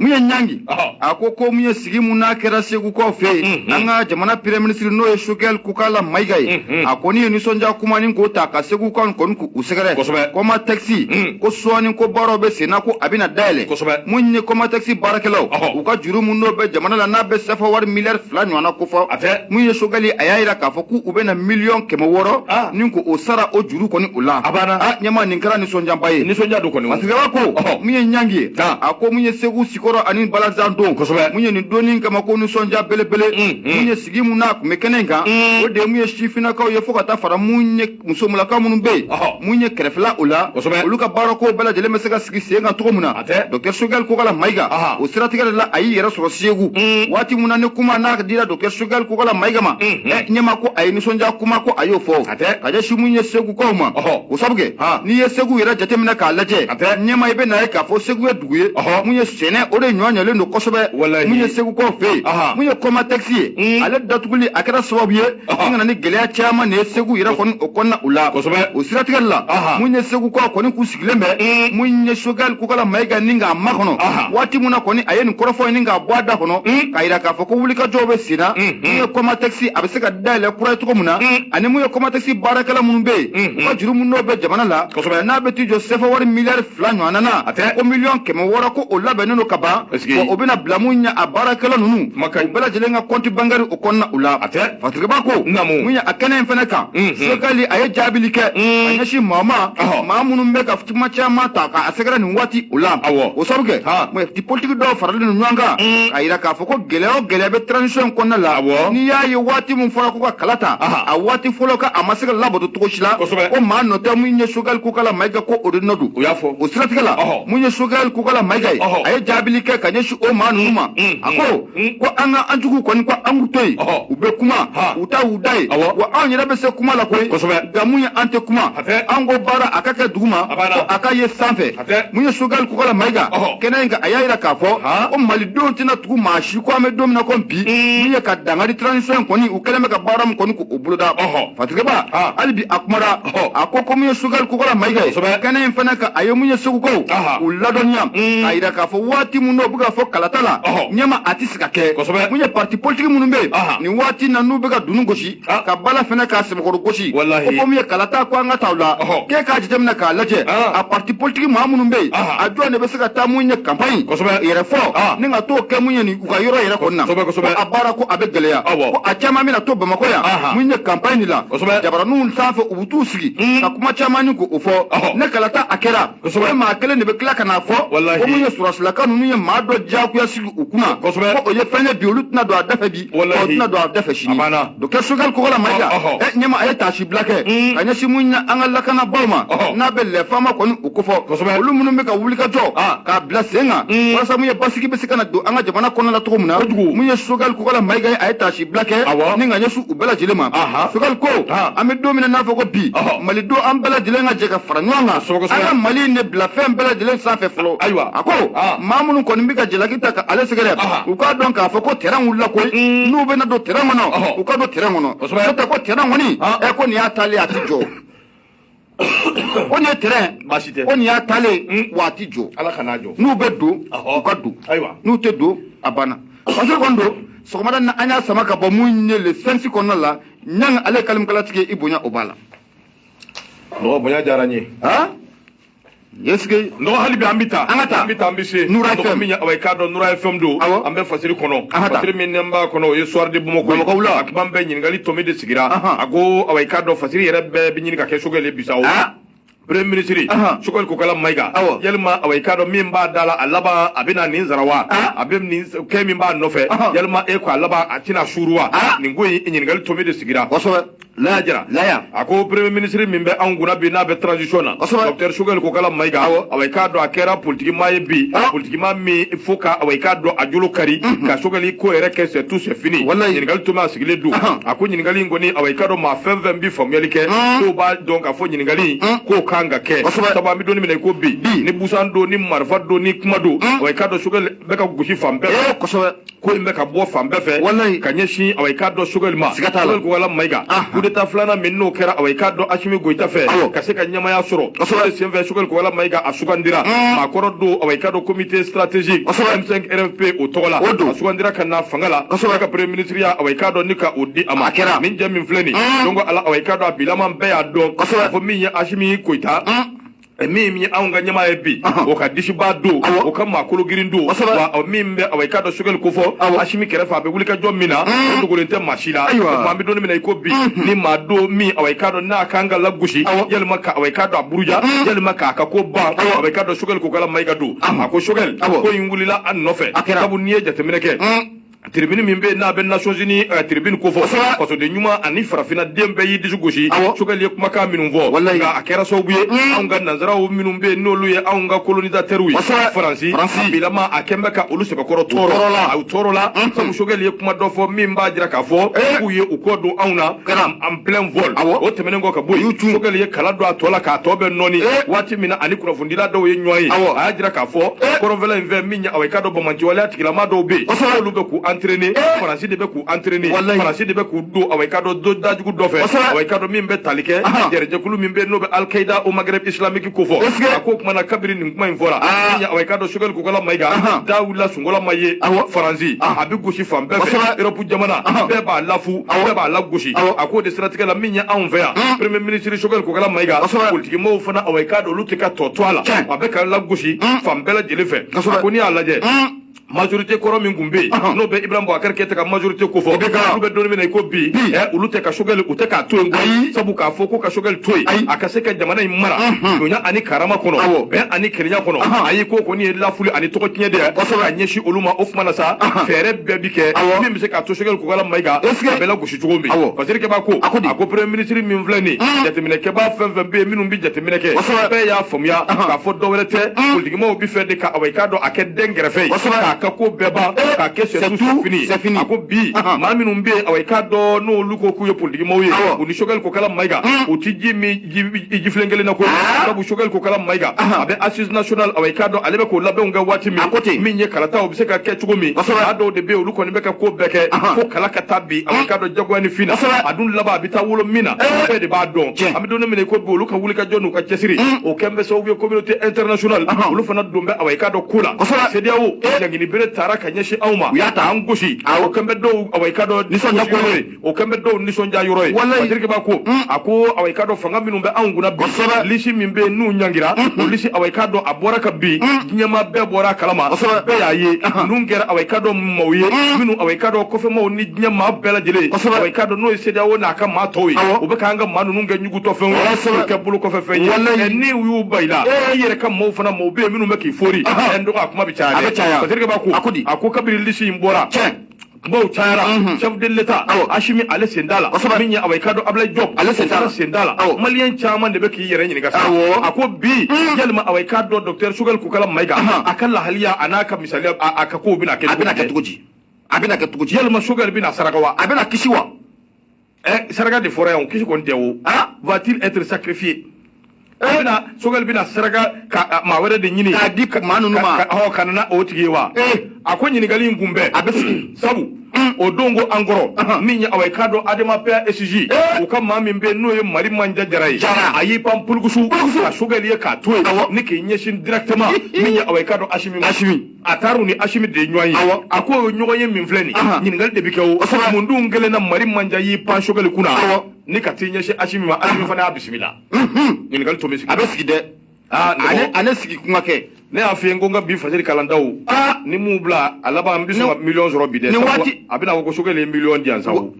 mun ye ɲangi a ko ko mun ye sigi mun n'a kɛra segukaw fɛ yen mm-hmm. an ka jamana premier minisiri n'o ye sogɛl kokala mayiga ye mm-hmm. a kɔni ye nisɔndiya kumanin ko ta ka segukaw kɔni k'u sɛgɛrɛ komatɛkisi mm. ko sɔɔni ko baaraw bɛ senna ko a bɛna dayɛlɛ mun ye komatɛkisi baarakɛlaw u ka juru mun n'o bɛ jamana la n'a bɛ sefa wari miliyari fila ɲɔgɔnna kofɔ mun ye sogɛli a y'a jira k'a fɔ k'u bɛna miliyɔn kɛmɛ wɔɔrɔ ah. ni k'o sara o juru kɔni o la a banna a ɲɛma nin kɛra nisɔnjaba ye nisɔnja don kɔni mansakɛba ko mun ye ɲangi ye a ko mun ye segu sikɔrɔ ani balazan don kosɛbɛ mun ye nin donni kama ko nisɔnja belebele mm, mm. mun ye sigi mun n'a tun bɛ kɛnɛ in kan mm. o de mun ye sifinnakaw ye fo ka taa fara mun ye musomulakaw minnu bɛ yen mun ye kɛrɛfɛla o la kosɛbɛ olu ka baarako bɛɛ lajɛlen bɛ se ka sigi sen kan cogo min na dɔkitɛri sogɛli kokala mayiga o siratigɛ de la a y'i yɛrɛ sɔrɔ segu waati mun na ni kuma n'a dira dɔkitɛri sogɛli kokala mayiga ma ɲɛma ko a ye nisɔnja kuma ko a y'o fɔ ka ɲɛsin mun ye segukaw ma o sabu kɛ n'i ye segu yɛrɛ jateminɛ k'a lajɛ ɲɛma i bɛ na ye k'a fɔ segu ye dugu ye mun ye sɛnɛ o de nɔgɔyalen don kosɛbɛ mun ye segukaw fɛ yen mun ye kɔmatɛkisi ye mm. ale datuguli a kɛra sababu ye a ka na ni gɛlɛya caman de ye segu yɛrɛ kɔni o kɔnɔna o la o siratigɛ de la mun ye segukaw kɔni k'u sigilen bɛ mun ye sogɛli kokala mayiga ni k'a makɔnɔ waati min na kɔni a ye nin kɔrɔfɔ in ni k'a bɔ a da kɔnɔ k'a yira k'a fɔ ko wulikajɔw bɛ sen na mun ye kɔmatɛkisi a bɛ se ka dayɛlɛ kura ye cogo min na ani mun ye kɔmatɛkisi baarakɛla minnu bɛ yen u ka juru min n'o bɛ jamana la n'a bɛ t'i jɔ sɛfɛ wari miliyari fila ɲɔgɔnna na ko miliyɔn kɛmɛ wɔɔrɔ ko o labɛnnen don ka ban o bɛna bila mun ɲɛ a baarakɛla ninnu u bɛɛ lajɛlen ka compte bancaire kɔnɔna o la fatigaba ko mun ye a kɛnɛ in fana kan sogɛli a ye jaabili kɛ ka ɲɛsin maa ma maa minnu bɛ ka kuma caman ta k'a sɛgɛrɛ nin waati o la o sabu kɛ politiki dɔw faralen don ɲɔgɔn kan k'a yira k'a fɔ ko gɛlɛya o gɛlɛya bɛ transition kɔnɔna la n'i y'a ye waati min fɔra ko ka kalata a waati fɔlɔ ka a ma se ka labato cogo si la ko maa nɔ tɛ mun ye sogɛli kokala mayiga ko o de nɔ don o siratigɛ la mun ye sogɛli kokala mayiga ye a ye jaabili kɛ ka ɲɛsin o maa ninnu ma a ko ko an ka an jugu kɔni ko an k'u to yen u bɛ kuma u ta u da ye wa anw yɛrɛ bɛ se kuma la koyi nka mun ye an tɛ kuma an ko baara a ka kɛ duguma ko a ka ye sanfɛ mun ye sogɛli kokala mayiga kɛnɛ in kan a y'a yira k'a fɔ ko malidenw tɛna tugu maa si kɔ an bɛ don min na ko bi mun ye ka dangari transition in kɔni u kɛlen bɛ ka baara min kɔni k'o boloda fatigɛba hali bi a kumara a ko ko mun ye sogɛli kokala mayiga ye kɛnɛ in fana kan a ye mun ye segukaw u ladɔnniya mm. k'a yira k'a fɔ waati min n'o bɛ ka fɔ kalata la ɲɛma a tɛ se ka kɛ mun ye parti politiki minnu bɛ yen nin waati na n'u bɛ ka dunu gosi ka bala fana k'a sɛbɛkɔrɔ gosi ko ko mun ye kalata ko an ka taa o la k'e k'a jateminɛ k'a lajɛ a parti politiki maa minnu bɛ yen a jɔn de bɛ se ka taa mun ye kanpaɲi yɛrɛ fɔ ni ka t'o kɛ mun ye nin u ka yɔrɔ yɛrɛ kɔnɔna a baara ko a bɛ gɛlɛya ko a caman bɛna to bamakɔ yan mun ye kanpaɲi la jabaraninw sanfɛ u bɛ t'u sigi hmm. ka kuma caman ni k'o fɔ ni kalata a kɛra o maa kelen de bɛ tila ka n'a fɔ ko mun ye sɔrɔdasilaka ninnu ye maa dɔ diyagoya sigi u kunna ko o ye fɛn ye bi olu tɛna don a da fɛ bi o tɛna don a da fɛ sini docteur sogɛli kokala mayiga ɲɛma a ye taasibila kɛ ka ɲɛsin mun ye an ka lakanabaaw ma n'a bɛ les fama kɔni u kofɔ olu minnu bɛ ka wulikajɔ k'a bila sen kan walasa mun ye basigi bɛ se ka na don an ka jamana kɔnɔ la cogo min na mun ye sogɛli kokala mayiga ye a ye taasibila kɛ ni ka ɲɛsin u bɛɛ lajɛlen ma sogɛli ko an bɛ don min na n'a fɔ ko bi malidenw an bɛɛ lajɛlen ka jɛ ka fara ɲɔgɔn kan an ka mali in de bila fɛn bɛɛ lajɛlen sanfɛ fɔlɔ ayiwa a ko maa minnu kɔni bɛ ka jalaki ta ale sɛgɛrɛ u k'a dɔn k'a fɔ ko tɛrɛn wulila koyi mm. n'u bɛna don tɛrɛn kɔnɔ u ka don tɛrɛn kɔnɔ n'o tɛ ko tɛrɛn kɔni ɛ ko nin y'a taalen a ti jɔ ko nin ye tɛrɛn baasi tɛ ko nin y'a taalen mm. wa a ti jɔ ala kana jɔ n'u bɛ don u ka don n'u tɛ don a banna parce que kɔni don sɔgɔmada na an y'a sama ka bɔ mun ye le sphinx kɔnɔna la ɲanga ale kalimukalatigi i bonya o b'a la mɔgɔ bonya diyara n ye yesike nɔgɔ hali bi an bɛ taa an ka taa an bɛ taa an bɛ se nura fm min awa i k'a dɔn nura fm don an bɛ fasiri kɔnɔ fasiri min n'an b'a kɔnɔ o ye soir de bamakɔ bamakɔ wula a kuma bɛɛ ɲininkali tomi de sigira a ko awa i k'a dɔn fasiri yɛrɛ bɛɛ bɛ ɲini ka kɛ sogɛli bi sa o premier ministre sogɛli kokala mayiga yalima awa i k'a dɔn min b'a da la a laban a bɛna nin sara wa a bɛ nin kɛ min b'a nɔfɛ yalima e ko a laban a tɛna suuru wa nin ko in ɲininkali tomi de sigira kosɛbɛ laya jara laya a ko premier ministre min bɛ anw kunna bi n'a bɛ transition na docteur sogɛli kokala mayiga awa i k'a dɔn a kɛra politikimaa ye bi ah. politikimaa min fo ka awa i k'a dɔn a jolo kari mhm. ka sogɛli ko yɛrɛ kɛ c'est tout c'est fini ɲininkali tomi a sigilen don a ko ɲininkali in kɔni awa i k'a dɔn maa fɛn fɛn bi faamuyali kɛ ah. k'o b'a dɔn k'a fɔ ɲininkali ah. k'o kan ka kɛ sabu an bɛ don min na i ko bi ni busan don ni marifa don ni kuma don awa i k'a dɔn sogɛli bɛ ka gosi fan bɛɛ eh, ko in bɛ ka bɔ fan bɛɛ fɛ walayi ka ɲɛsin awa i k'a dɔn sogɛli ma siga t'a la kokala mayiga kudeta filanan min n'o kɛra awa i k'a dɔn asimi goyita fɛ ka se ka ɲɛmaaya sɔrɔ kosɛbɛ senfɛ sogɛli kokala mayiga a sugandira maa kɔrɔ don awa i k'a dɔn comité stratégique m5 rfp o tɔgɔ la a sugandira ka na fanga la kosɛbɛ ka premier ministre ya awa i k'a dɔn ni ka o di a ma a kɛra min jɛ min filɛ nin don ko ala awa i k'a dɔn a bilaman bɛɛ y'a dɔn kosɛbɛ fɔ min ye asimi goyita min ye anw ka ɲɛmaa ye bi o ka disibaa don o ka maakolo girin don wa min bɛ awa i k'a dɔn sogɛli kofɔ asimi kɛrɛfɛ a bɛ wulikajɔ min na mm. o dogolen tɛ maa si la o an bɛ don min na i ko bi mm-hmm. ni maa don min awa i k'a dɔn n'a kan ka lagosi yalima ka awa i k'a dɔn a buruja mm. yalima k'a ka ko ban awa i k'a dɔn sogɛli kokala mayiga don a ko sogɛli ko in wulila a nɔfɛ sabu n'i ye jateminɛ kɛ mm. tribune min bɛ n'a bɛ nations unies uh, tribune kofɔ fasoden ɲuman ani farafinna den bɛɛ y'i disi gosi sogɛli ye kumakan minnu fɔ nka a kɛra sababu ye mm. anw ka nanzaraw minnu bɛ n'olu ye anw ka kolonizatɛriw ye faransi bilama a kɛn bɛ ka olu sɛbɛkɔrɔ tɔɔrɔ la u tɔɔrɔla mm-hmm. sabu sogɛli ye kuma dɔ fɔ min b'a jira k'a fɔ eh. k'u ye u kɔ don anw na en plein vol o tɛmɛnen kɔ ka bɔ yen sogɛli ye kala don a tɔ la k'a tɔ bɛ nɔɔni eh. waati min na a ni kunnafonidila dɔw ye ɲɔgɔn ye a y'a jira k'a fɔ eh. kɔrɔnfɛla in fɛ ɲɛ awɔ i k'a dɔn banbaanciwaleya tigilama dɔw bɛ yen kosɛbɛ olu bɛ k'u entraîner eh! faransi de bɛ k'u entraîner walayi faransi de bɛ k'u don awɔ i k'a dɔn dajugu dɔ fɛ kosɛbɛ awɔ i k'a dɔn min bɛ tali kɛ jɛrɛjɛkulu min bɛ yen n'o bɛ Al-Qaïda au Maghreb islamique kofɔ a ko tuma na kabiri nin kuma in fɔra ah. awɔ i k'a dɔn sogɛli kokala mayiga da wulila sunkola ma ye faransi a bɛ gosi fan bɛɛ fɛ jamana bɛɛ b'a lafu bɛɛ b'a lagosi a k'o de siratigɛ la min ye anw fɛ yan premier ministre sogɛli kokala mayiga politikimɔgɔw fana awɔ i k'a dɔn olu tɛ ka tɔ to a la a bɛ ka lagosi fan bɛɛ lajɛlen fɛ a ko n'i y'a lajɛ majorité kɔrɔ min tun bɛ yen n'o bɛ Ibrahim Boubacar Keïta ka majorité kofɔ olu bɛ don min na i ko bi olu tɛ ka sogɛli u tɛ k'a to yen koyi sabu k'a fɔ ko ka sogɛli to yen a ka se ka jamana in mara bonya ani karama kɔnɔ bɛn ani kelenya kɔnɔ ayi ko kɔni ye lafuli ani tɔgɔ tiɲɛ de ye ka ɲɛsin olu ma o tuma na sa fɛɛrɛ bɛɛ bi kɛ min bɛ se k'a to sogɛli kokala mayiga a bɛ lagosi cogo min Basidiki b'a ko a ko premier ministre min filɛ nin mm. jateminɛkɛbaa fɛn fɛn bɛ yen minnu bɛ jateminɛ kɛ bɛɛ y'a faamuya k'a fɔ dɔwɛrɛ tɛ mm. politikimaw bɛ fɛ de ka awa i k'a dɔn a kɛ denkɛrɛfɛ ye k'a ka ko bɛɛ ban eh. k'a kɛ c'est tout fini a ko bi maa minnu bɛ yen awa i k'a dɔn n'olu ko k'u ye politikimaw ye u ni sogɛli kokala mayiga mm. u tɛ ji min jifilen kelen na ko sabu sogɛli kokala mayiga a bɛ assises nationales awa i k'a dɔn ale bɛ k'o labɛnw kɛ waati min a ko ten min ye kalata o bɛ se ka kɛ cogo min a dɔw de bɛ yen olu kɔni bɛ ka ko bɛɛ kɛ fo kala ka ta bi awa i k'a dɔn jagoya ni fin na a dun laban a bɛ taa wolo min na bɛɛ de b'a dɔn an bɛ don min na i ko bi olu ka wulikajɔ n'u ka cɛsiri o kɛn bɛ sababu ye communauté internationale olu fana don bɛ awa i k'a dɔn ko la CEDEAO ɲangini bere tara ka ɲɛsin anw ma u y'a ta an gosi o kɛn bɛ dɔw awa i k'a dɔn nisɔndiya ko ye o kɛlen bɛ dɔw nisɔndiya yɔrɔ ye walayi Basidiki b'a ko mm. a ko awa i k'a dɔn fanga minnu bɛ anw kunna bi kosɛbɛ lisi min bɛ yen n'u ɲangira o mm-hmm. lisi awa i k'a dɔn a bɔra ka bin mm. diɲɛ maa bɛɛ bɔra a kalama kosɛbɛ bɛɛ y'a ye uh-huh. ninnu kɛra awa i k'a dɔn maaw ye mm. minnu awa i k'a dɔn kɔfɛmaaw ni diɲɛ maa bɛɛ lajɛlen kosɛbɛ awa i k'a dɔn n'o ye CEDEAO n'a ka maa tɔw ye u bɛ k'an ka maa ninnu kɛ ɲugutɔfɛnw ye k'u kɛ bolokɔfɛfɛn ye walayi ni u y'u ban i la e yɛrɛ ka maaw fana maaw bɛ yen minnu bɛ k'i fori uh-huh. ɛ n dɔgɔ a kuma bɛ caya dɛ a bɛ caya Basidiki b'a ko a ko di a ko kabini lisi in bɔra maw cayara mhm. chef de l'Etat Assimi ale sen t'a la min ye awa i k'a dɔn Ablaye Diop ale sen t'a la sen t'a la maliyɛn caman de bɛ k'i yɛrɛ ɲininka sa a ko bi mhm. yalima awa i k'a dɔn docteur Sogɛli Kokala Mayiga a ka lahalaya a n'a ka misaliya a ka kow bɛna kɛ cogo di a bɛna kɛ cogo di yalima Sogɛli bɛna saraka wa a bɛna kisi wa eh, saraka de fɔra yan o kisi kɔni tɛ o ah va-t-il être sacrifié eh? a bɛna sogɛli bɛna saraka ka maa wɛrɛ de ɲini k'a di maa ninnu ma ɔ ka na n'o tigi ye wa eh. a ko ɲininkali in kun bɛ a bɛ sigi sabu hmm. o don ko an kɔrɔ min ye awa i k'a dɔn ADEMA PASJ eh. u ka maa min bɛ n'o ye Marimantia Diarra ye a y'i pan pulukusu ka sogɛli ye k'a to yen ni k'i ɲɛsin directement min ye awa i k'a dɔn asimi asimi a taara u ni asimi de ye ɲɔgɔn ye Awɔ. a ko o ɲɔgɔn ye min filɛ nin Aha. ye ɲininkali de bɛ kɛ o Kosɛbɛ. mun dun kɛlen na marimantia y'i pan sokɛli kunna Awɔ. ni ka t'i ɲɛsin asimi ma asimi fana y'a bisimila Mhm. ɲininkali tomi bɛ sigi a bɛ sigi dɛ aa ne ale ko- ale sigi kuma kɛ ne y'a f'i ye ko n ka bi fasiri kalandaw aa ni mun bila a laban n bɛ sɔn ka Nin- miliyɔn sɔrɔ bi dɛ nin sabu waati- a bɛna fɔ ko sokɛli ye miliyɔn di yan sabu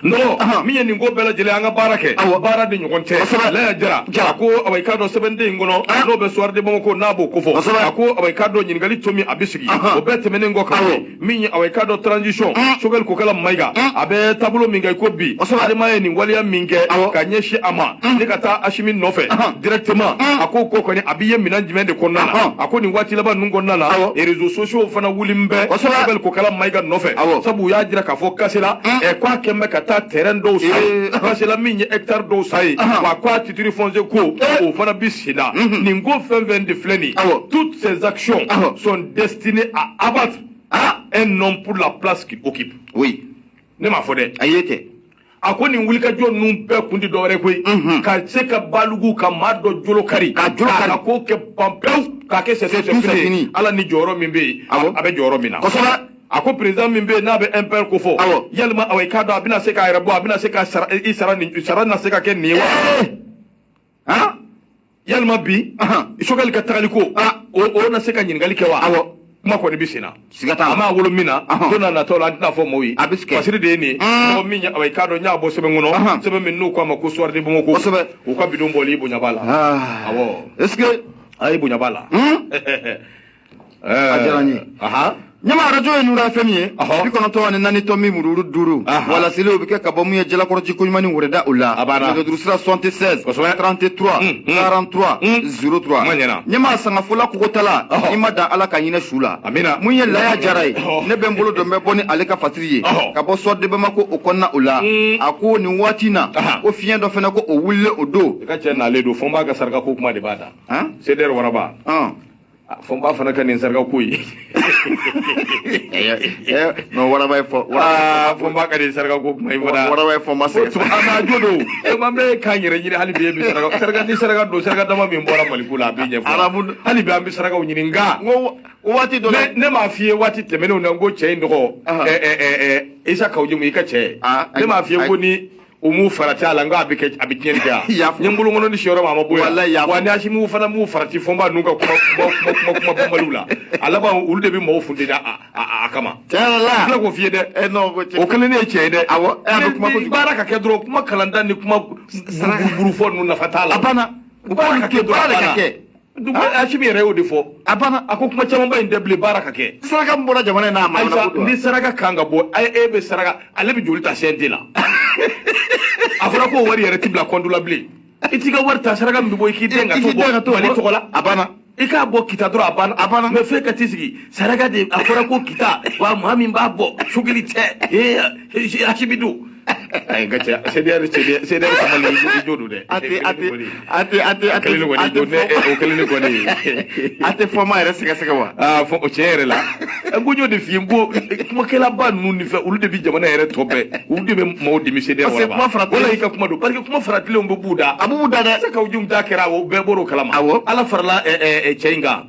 nɔgɔ min ye nin ko bɛɛ lajɛlen an ka baara kɛ awa baara de ɲɔgɔn tɛ kosɛbɛ laya jara jara a ko awa i k'a dɔn sɛbɛnden in kɔnɔ n'o bɛ soir de bamako n'a b'o kofɔ kosɛbɛ a ko awa i k'a dɔn ɲininkali tomi a bɛ sigi o bɛɛ tɛmɛnen kɔ kan min ye awa i k'a dɔn transition sokɛli kokala mayiga a bɛ taabolo min kan i ko bi adema ye nin waleya min kɛ ka ɲɛsin a ma ni ka taa asimi nɔfɛ directement a ko ko kɔni a bɛ ye minɛn jumɛn de kɔnɔna na a ko nin waati laban ninnu kɔnɔna na réseaux sociaux fana wulilen bɛ sokɛli kokala mayiga nɔfɛ sabu u y'a jira k'a fɔ kasela mm. ɛ k'a kɛn bɛ ka taa tɛrɛn dɔw san yen kasela min ye hɛkitari dɔw san yen wa k'a titiri fɔnse ko eh. o fana bi sen na mm-hmm. nin ko fɛn fɛn de filɛ nin toutes ces actions sont destinées à abattre ah. un homme pour la place qu'il occupe oui ne m'a fɔ dɛ ayi kɛ a ko nin wulikajɔ ninnu bɛɛ kun tɛ dɔwɛrɛ koyi mhm. ka se ka balugu ka maa dɔ jolo kari ka jolo kari ka ko kɛ ban pewu k'a kɛ sɛsɛ fɛn ala ni jɔyɔrɔ min bɛ yen a bɛ jɔyɔrɔ min na kosɛbɛ a ko président min bɛ yen n'a bɛ MPR ko fɔ yalima awa i k'a dɔn a bɛna se k'a yɛrɛ bɔ a bɛna se ka sara i sara nin sara na se ka kɛ nin ye wa. ha yalima bi sokɛli ka tagali ko o na se ka ɲininkali kɛ wa awɔ kuma kɔni bɛ senna siga t'a la an b'a wolo min na don na natɔ la an tɛna fɔ mɔgɔw ye a bɛ kɛ fasiri de ye nin ye mɔgɔ min i k'a dɔn n y'a bɔ sɛbɛn kɔnɔ sɛbɛn min n'u k'a ma ko soir de bamako kosɛbɛ u ka bi don bɔli bonya b'a la awɔ est ce que a ye bonya b'a la a diyara n ye ɲama arajo ye nura FM ye bi kɔnɔntɔn ani naani tɔmi mururu duuru walasili o bɛ kɛ ka bɔ mun ye jalakɔrɔji koɲumani wɛrɛda o la nɛgɛjurusira 76 33 43 03 ɲama sangafola kogotala i ma dan ala ka hinɛ su la mun ye laya jara ye ne bɛ n bolo don bɛ bɔ ni ale ka fasiri ye ka bɔ soir de bamako o kɔnɔna o la a ko nin waati na ko fiɲɛ dɔ fana ko o wulilen o don i ka cɛ nalen don fɔnba ka saraka ko kuma de b'a da seder waraba fɔnba fana ka nin saraka ko ye non waraba ye fɔ fɔnba ka nin saraka ko kuma i fana waraba ye fɔ ma se an ma jo don e ma bɛ k'an yɛrɛ ɲini hali bi e bɛ saraka saraka ni saraka don saraka dama min bɔra mali ko la a bɛ ɲɛfɔ arabu hali bi an bɛ sarakaw ɲini nka n ko waati dɔ la ne m'a f'i ye waati tɛmɛnenw na n ko cɛ in tɔgɔ isa kawu jimu i ka cɛ ne m'a f'i ye ko ni u m'u farati a la nka a bɛ kɛ a bɛ tiɲɛni kɛ a N y'a fɔ. n ye n bolokɔnɔni sin yɔrɔ ma a ma bɔ yan Walayi, n y'a fɔ. wa ni asimiw fana m'u farati fɔnba n'u ka kuma banbaliw la a laban olu de bɛ mɔgɔw funteni a kama tiɲɛ yɛrɛ n la tila k'o f'i ye dɛ ɛ n'o ko o kelen ne ye tiɲɛ ye dɛ Awɔ, e a bɛ kuma Ni- ni kojugu. baara ka kɛ dɔrɔn kuma kalanta ni kuma Saraka. burufɔ ninnu nafa t'a la a banna baara ka kɛ dɔrɔn baara de a ka banna. kɛ Asim yɛrɛ y'o de fɔ a banna a ko kuma camanba in tɛ bilen baara ka kɛ saraka min bɔra jamana in n'a ma Ayisa ni saraka kan ka bɔ a e bɛ saraka ale bɛ joli ta CNT la a fɔra ko wari yɛrɛ ti bila kɔntu la bilen i t'i ka wari ta saraka min bɛ bɔ i k'i den ka to bɔ Mali tɔgɔ la a banna i k'a bɔ kita dɔrɔn a banna a banna mais f'e ka t'i sigi saraka de a fɔra ko kita wa maa min b'a bɔ Choguel tɛ ee asibi don ay gacha CDR CDR CDR sama le ju ju du de ate ate ate ate ate kele ko ni ne o kele ni ko ni ate fo ma yɛrɛ sɛgɛsɛgɛ wa ah fo o tiɲɛ yɛrɛ la ko jo de fiye ko kumakɛlaba ninnu ni fɛ olu de bi jamana yɛrɛ tɔ bɛɛ olu de bɛ maaw dimi CDR wala i ka kuma don parce que kuma faratilenw bɛ b'u da a b'u da dɛ Isa Kawu Jim ta kɛra o bɛɛ bɔr'o kalama awɔ ala farala cɛ in kan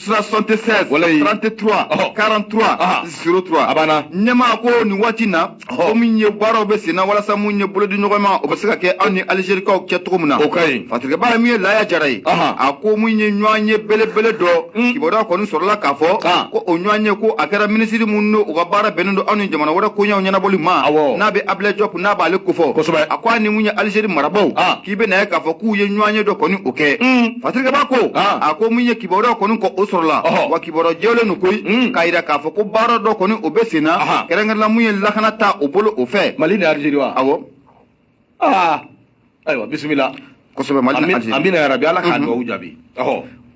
76 walayi 33 ɔhɔ. 43 Aha. 03 A banna. ɲɛmaa ko nin waati in na Ɔhɔ. ko min ye baaraw bɛ sen na walasa mun ye bolodiɲɔgɔnma o bɛ se ka kɛ anw ni alizerikaw cɛ cogo min na O ka ɲi. fasirikɛba ye min ye laaya jara ye Aha. a ko mun ye ɲɔgɔnye belebele dɔ Mm. kibaruya kɔni sɔrɔla k'a fɔ Ah. ko o ɲɔgɔnye ko a kɛra minisiri min n'o ka baara bɛnnen don anw ni jamana wɛrɛ koɲɛw ɲɛnabɔli ma Awɔ. n'a bɛ abilɛ jɔp n'a b'ale kofɔ Kosɛbɛ. a ko a ni mun ye alizeri marabaw Ah. i bɛ na ye k'a fɔ k'u ye ɲɔgɔn ye dɔ kɔni o kɛ hmm. fasirikɛba ko ah. a ko min ye kibaruya kɔni kɔ o sɔrɔla wa kibaruya jɛlen don koyi hmm. k'a jira k'a fɔ ko baara dɔ kɔni o bɛ sen na kɛrɛnkɛrɛnna mun ye lakana ta o bolo o fɛ mali ni alizeri wa awɔ ah. ayiwa bisimila kosɛbɛ mali ni alizeri amiina yarabi ala ka dugawu jaabi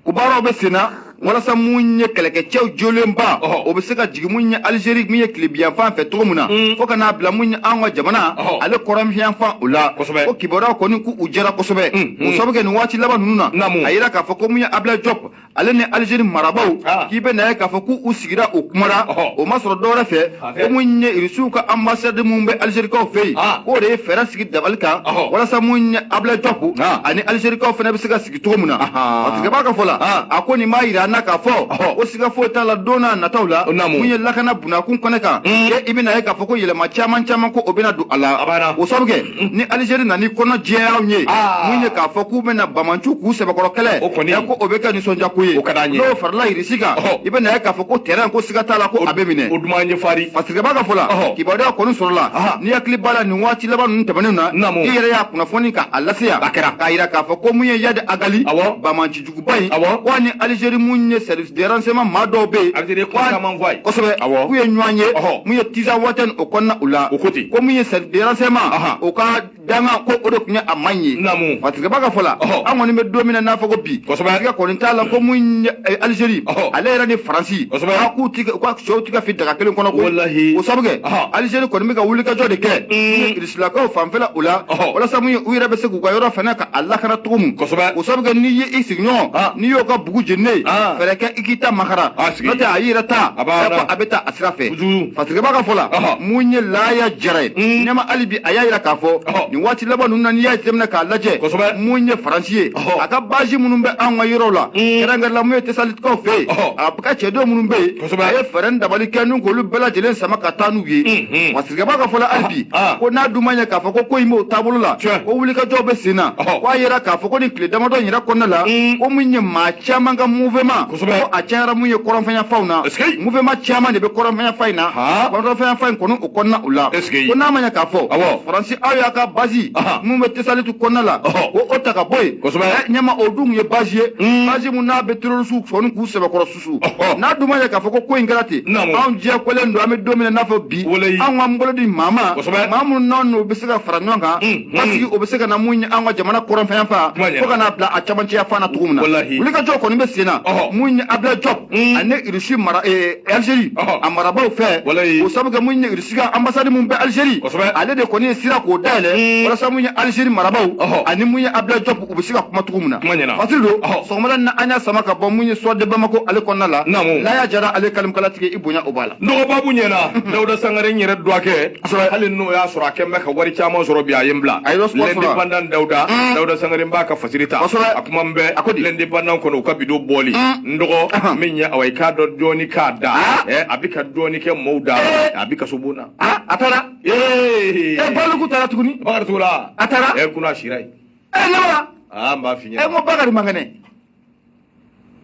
o baaraw bɛ sen na walasa mun ye kɛlɛkɛcɛw jolenba o bɛ se ka jigin mun ye alizeri min ye tilebiyanfan fɛ cogo min na mm. fo ka n'a bila mun ye an ka jamana ale kɔrɔnfiyanfan o la o kibaruyaw kɔni k'u jɛra kosɛbɛ mm, mm. o sababu kɛ nin waati laban ninnu na a yira k'a fɔ ko mun ye abila jɔp ale ni alizeri marabaw ah. k'i bɛ na ye k'a fɔ k'u sigira u kumara o ma sɔrɔ dɔwɛrɛ fɛ ah, ko mun ye irisiw ka anbasadi min bɛ alizerikaw fɛ yen ah. k'o de ye fɛɛrɛ sigi dabali kan walasa mun ye abila jɔp ani alizerikaw fana bɛ se ka sigi cogo min na fasirikɛba ka fɔ la a ko nin b'a yira an na k'a fɔ ko siga foyi t'a la don na nataw la mun ye lakana bunakun kɛnɛ kan i bɛna ye k'a fɔ ko yɛlɛma caman caman ko o bɛna don a la o sabu kɛ ni alizeri nana ni kɔnɔ jɛya anw ye mun ye k'a fɔ k'u bɛna banbaanciw k'u sɛbɛkɔrɔ kɛlɛ ko o bɛ kɛ nisɔndiya ko ye n'o farala si kan i bɛ na ye k'a fɔ ko tɛrɛn ko siga t'a la ko a bɛ minɛ o duman ye fari fasirikɛba ka fɔ la kibaruya kɔni sɔrɔla n'i hakili b'a la nin waati laban ninnu tɛmɛnenw na i yɛrɛ y'a kunnafoni k'a lase yan a kɛra k'a jira k'a fɔ ko mun ye iyadi agali banbaanci juguba in k'a ni alizeri mun ye service de renseignement maa dɔw bɛ yen kosɛbɛ k'u ye ɲɔgɔn ye mun ye tinzawatɛni o kɔnɔna u la o ko ten ko mun ye service de renseignement o ka danga ko o de tun ye a man ye namu fasirikɛbaa ka fɔ la an kɔni bɛ don min na n'a fɔ ko bi watigɛ kɔni t'a la ko mun ye eh, alizeri ale yɛrɛ ni faransi a k'u ti ka sɛw ti ka fi daga kelen kɔnɔ ko o sabu kɛ alizeri kɔni bɛ ka wulikajɔ de kɛ mm. irisilakaw fanfɛla o la walasa mun ye u yɛrɛ bɛ se k'u ka yɔrɔ fana ka a lakana cogo min o sabu kɛ n'i ye i sigiɲɔgɔn n'i y'o ka bugu jeninen fɛɛrɛ kɛ i k'i ta makaran n'o tɛ a y'i yɛrɛ ta a bɛ taa a sira fɛ fasirikɛbaa ka fɔ la mun ye laya jara ye mm. ɲɛma hali bi a y'a jira k'a fɔ nin waati laban ninnu na n'i y'a jateminɛ k'a lajɛ mun ye faransi ye a ka bazi minnu bɛ anw ka yɔrɔw la mm. kɛrɛnkɛrɛnla mun ye tesalikaw fɛ yen a ka cɛdenw minnu bɛ yen a ye fɛɛrɛ ni dabali kɛ n'u k'olu bɛɛ lajɛlen sama ka taa n'u ye mm-hmm. fasirikɛbaa ka fɔ la hali ah, bi ah. ko n'a dun ma ɲɛ k'a fɔ ko ko in b'o taabolo la ko wulikajɔw bɛ sen na ko a jira k'a fɔ ko nin tile damadɔ in yɛrɛ kɔnɔna la mm. ko mun ye maa caman ka mouvement kosɛbɛ ko a cayara mun ye kɔrɔnfɛnya fanw na mouvement caman de bɛ kɔrɔnfɛnya fan in na kɔrɔnfɛnya fan in kɔni o kɔnɔna o la ko n'a ma ɲɛ k'a fɔ faransi aw y'a ka bazi mun bɛ tesalitu kɔnɔna la ko o ta ka bɔ yen kosɛbɛ ɲɛma o dun ye bazi ye bazi mun n'a bɛ terorisiw sɔni k'u sɛbɛkɔrɔ susu n'a dun ma ɲɛ k'a fɔ ko ko in kɛra ten anw diyagoyalen don an bɛ don min na i n'a fɔ bi anw k'an bolo di maa ma maa minnu n'anw n'u bɛ se ka fara ɲɔgɔn kan parce que o bɛ se ka na mun ye an ka jamana kɔrɔnfɛya fan fo ka n'a bila a camancɛya fan na cogo min na wulikajɔ kɔni bɛ sen na mun ye abila jɔp ani irisi mara alizeri a marabaaw fɛ o sabu kɛ mun ye irisi ka anbasadi min bɛ alizeri ale de kɔni ye sira k'o dayɛlɛ walasa mun ye alizeri marabaaw ani mun ye abila jɔp u bɛ se ka kuma cogo min na fasiri don sɔgɔmada na an y'a sama ka bɔ mun ye soir de bamako ale kɔnɔna la laya jara ale kalimukalatigi i bonya o b'a la n dɔgɔ n b'a f'i ɲɛna dawuda sangare n yɛrɛ dɔgɔkɛ hali n'o y'a sɔrɔ a kɔni bɛ ka wari caman sɔrɔ bi a ye n bila lɛndepandan dawuda mm. dawuda sangare n b'a ka fasiri ta a kuma bɛ lɛndepandan kɔnɔ u ka bido bɔli mm. n dɔgɔ min ɲɛ awa i k'a dɔn dɔɔni k'a da ah. eh, a bɛ ka dɔɔni kɛ mɔɔw da eh. a bɛ kasobon na ah, a taara eh, baluku taara tuguni bakari togola a taara kunun a sira yen ɛ ne ma aa n b'a f'i ɲɛna ɛ n ko bakari man kɛnɛ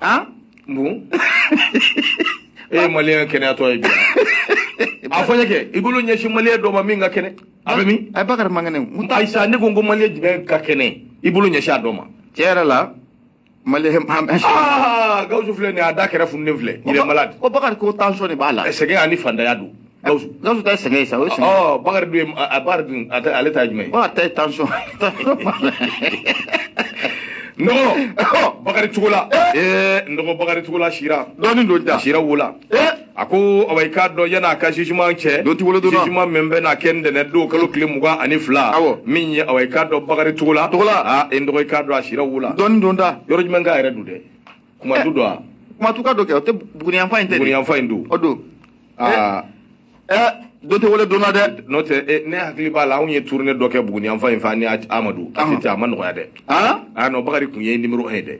han bon e ye maliyɛn kɛnɛyatɔ ye bi a fɔ n ye kɛ i bolo ɲɛsin maliyɛn dɔ ma min ka kɛnɛ a bɛ min ɛ eh, bakari man kɛnɛ n ko ayisa ne ko n ko maliyɛn jumɛn ka kɛnɛ i bolo ɲɛsin a dɔ ma tiɲɛ yɛrɛ la ah, gawusu filɛ nin a da kɛrɛ fununen filɛ il est malade ko bakari ko tension de b'a la eh, sɛgɛn ani fantanya don gawusu gawusu ta ye sɛgɛn ye sa o ye sɛgɛn ye ɔ bakari dun ye a bakari dun ale ta ye jumɛn ye a ta ye tension n dɔgɔ bakari togola eh. eh, n dɔgɔ bakari togola sira dɔɔnin don da sira wo la a ko awa i k'a dɔn yan'a ka jugement cɛ don tigolo donna jugement min bɛna kɛ ntɛnɛn don kalo tile mugan ani fila awɔ min ye awa i k'a dɔn bakari togola togola a e n dɔgɔ i k'a dɔn a sira wo la dɔɔni don da yɔrɔ jumɛn k'a yɛrɛ don dɛ kumatu don a kumatuka don kɛ o tɛ buguni yanfan in tɛ buguni yanfan in don o don aa ɛɛ don tɛ wele donna dɛ n'o tɛ ne hakili b'a la anw ye tournée dɔ kɛ buguni yanfan in fɛ ani amadu a tɛ a ma nɔgɔya dɛ a non bakari kun ye numéro 1 ye dɛ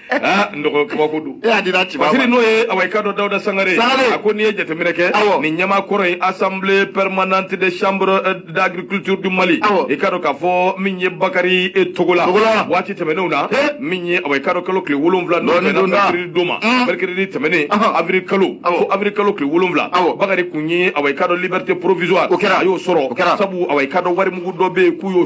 aa n dɔgɔ kabako don e y'a dira ci ma parce que n'o ye awa i k'a dɔn Dawuda Sangare Sangare. a ko n'i ye jateminɛ kɛ Awɔ. nin ɲɛmaakɔrɔ ye assemblée permanente des chambres euh, d'agriculture du Mali Awɔ. i k'a dɔn k'a fɔ min ye Bakari eh, Togola Togola. waati tɛmɛnenw na Eh. min ye awa i k'a dɔn kalo tile wolonwula n'o Dɔɔnin bɛnna don da. mercredi don ma Mm. mercredi tɛmɛnen Ahan. avril kalo Awɔ. fo avril kalo tile wolonwula Awɔ. Bakari kun ye awa i k'a dɔn liberté provisoire O kɛra. a y'o sɔrɔ O kɛra. sabu awa i k'a dɔn warimugu dɔ bɛ yen k'u y'o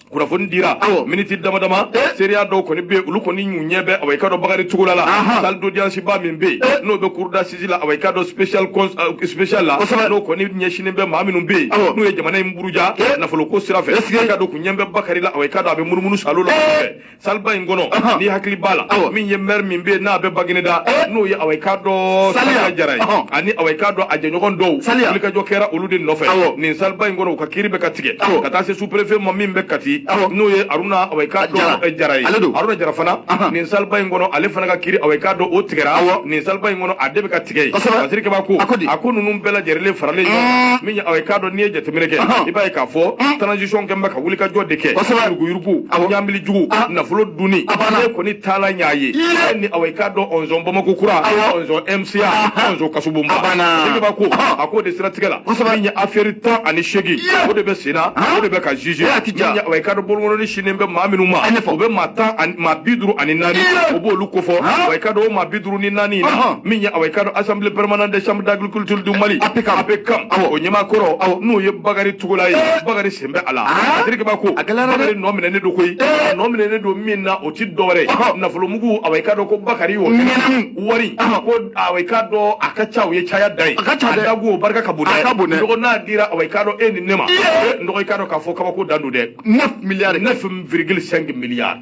kunnafoni dira miniti dama dama eh? seereya dɔw kɔni bɛ olu kɔni y'u ɲɛ bɛ awa i ka dɔn bakari togola la salle d'audience ba min bɛ yen eh? n'o bɛ cour d'assises la awa i ka dɔn spéciale eh, spéciale la n'o kɔni ɲɛsinnen bɛ maa minnu bɛ yen n'u ye jamana in buruja nafoloko sira fɛ i k'a dɔn k'u ɲɛ bɛ bakari la awa i ka dɔn a bɛ munumunu salo la saliba in kɔnɔ Ɔhɔn. n'i hakili b'a la Awɔ. min ye mɛri min bɛ yen n'a bɛ bagineda Eh. n'o ye awa i k'a dɔn Saliya. saliya jara ye Ɔhɔn. ani awa i k'a dɔn a jɛɲɔgɔn dɔw Saliya. wulikajɔ kɛra olu de nɔfɛ Awɔ. nin saliba in kɔnɔ u ka kiiri bɛ ka tigɛ Awɔ. ka taa se sous-préfet ma min bɛ kati Awɔ. n'o ye aruna awa i k'a dɔn Jara. eh, jara ye Ale don. aruna jara fana Ahan. nin saliba in kɔnɔ ale fana ka kiiri awa i k'a dɔn o tigɛra Awɔ. nin saliba in kɔnɔ a de bɛ ka tigɛ ye Kosɛbɛ. parce que kɛba ko A ko di? a ko ninnu bɛɛ lajɛlen faralen ɲɔgɔn kan min ye awa i k'a dɔn n'i ye jateminɛ kɛ i b'a ye k'a fɔ transition kɛ bɛ ka wulikajɔ de kɛ yuruguyurugu ɲamili jugu nafolo dunni ne kɔni taala n y'a ye ni awa i k'a dɔn ɔnzɔn bamako kura ɔnzɔn mca ɔnzɔn kasobonba kɛba ko a k'o de siratigɛ la min ye aferi tan ani seegin o de bɛ sen na o de bɛ ka jugé min ye awa i k'a dɔn bolokɔnɔni sinnen bɛ maa minnu ma o bɛ maa tan maa bi duuru ani naani o b'olu kofɔ awa i k'a dɔn o maa bi duuru ni naani min ye awa i k'a dɔn assemblée permanente des chambres culture du Mali APCAM APCAM awɔ o ɲɛmaakɔrɔ awɔ n'o ye Bakari Togola ye Bakari sen bɛ a la a terikɛba ko a gɛlɛyara dɛ Bakari nɔ minɛnen don koyi a nɔ minɛnen don min na o tɛ dɔwɛrɛ ye nafolomugu awɔ i k'a dɔn ko Bakari y'o ɲimi wari ko awɔ i k'a dɔn a ka ca o ye caya da ye a ka ca dɛ a dagu o barika ka bon dɛ a ka bon dɛ n dɔgɔ n'a dira awɔ i k'a dɔn e ni ne ma n dɔgɔ i k'a dɔn k'a fɔ kabako dan don dɛ 9 milliards 9,5 milliards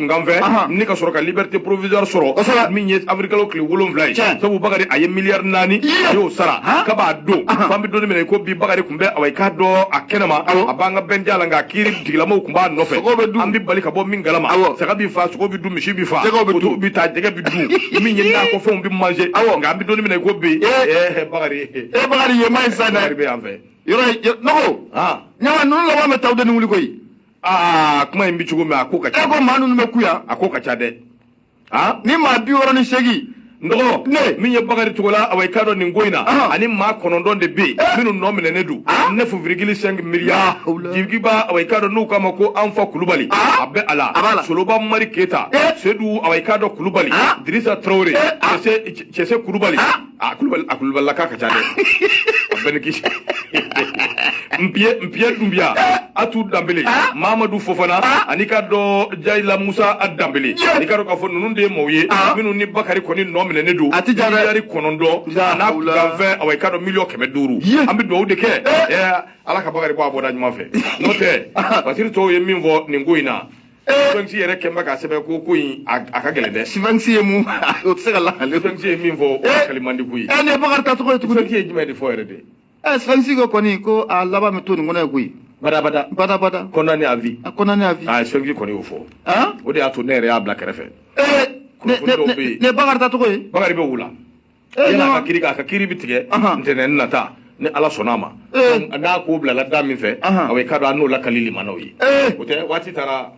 kunkan fɛ ni ka sɔrɔ ka liberté provisoire sɔrɔ min ye avril kalo tile wolonwula ye sabu bakari a ye miliyari naani a y'o sara ka b'a don f'an bɛ dɔɔni minɛ ko bi bakari kun bɛ awa i k'a dɔn a kɛnɛma a b'an ka bɛnja la nka kiiri tigɛlamaw kun b'a nɔfɛ an bɛ bali ka bɔ min galama saga bɛ fa sogo bɛ dun misi bɛ fa koto bɛ taa jɛgɛ bɛ dun min ye nakɔfɛnw bɛ manger nka an bɛ dɔɔni minɛ ko bi ɛɛ bakari e bakari ye ma ye sa dɛ bakari bɛ yan fɛ yɔrɔ nɔgɔ ɲama ninnu laban bɛ taw de ni wuli koyi aa kuma in bɛ cogo min a ko ka ca e ko maa ninnu bɛ ko in na a ko ka ca dɛ aa ni maa bi wɔɔrɔ ni seegin don min ye bakari togola awa i k'a dɔn nin ko in na ani maa kɔnɔntɔn de bɛ yen eh. minnu nɔ minɛnen don neuf virgule cinq milliards jigiba awa i k'a dɔn n'u k'a ma ko anfa kulubali a bɛ a la soloba mari keyita eh. sedu awa i k'a dɔn kulubali dirisa tarawele eh. cɛse kulubali a kulubali a kulubalilaka ka ca dɛ a bɛɛ ni kisi npiye npiye dunbiya atu danbele mamadu fofana ani i k'a dɔn jayila musa a danbele ani i k'a dɔn k'a fɔ ninnu de ye maaw ye minnu ni bakari kɔni nɔ minɛnen don a miliyari kɔnɔntɔn n'a kanfɛn awa i k'a dɔn miliyɔn kɛmɛ duuru Ye. an bɛ dugawu de kɛ ɛ, ala ka bakari bɔ a bɔda ɲuman fɛ n'o tɛ fasiri tɔw ye min fɔ nin ko in na sphinx yɛrɛ kɛlen bɛ k'a sɛbɛn ko ko in a ka gɛlɛn dɛ sphinx ye mun o tɛ se ka lakali sphinx ye min fɔ o lakali man di koyi ɛ eh, nin ye bakari tacogo ye tuguni sphinx ye jumɛn de fɔ yɛrɛ de ɛ eh, sphinx ko kɔni ko a laban bɛ to nin kɔnɔ yen koyi badabada badabada condamné à vie condamné à vie sphinx kɔni y'o fɔ o de y'a to ne yɛrɛ y'a bila kɛrɛfɛ nin ye bakari tacogo ye bakari bɛ wula Eh, yala a ka kiri a ka kiri bɛ tigɛ ntɛnɛn nata ni ala sɔnna a ma eh. n'a ko bilala da min fɛ awa i k'a dɔn an n'o lakali lamɛnnaw ye eh. o tɛ waati taara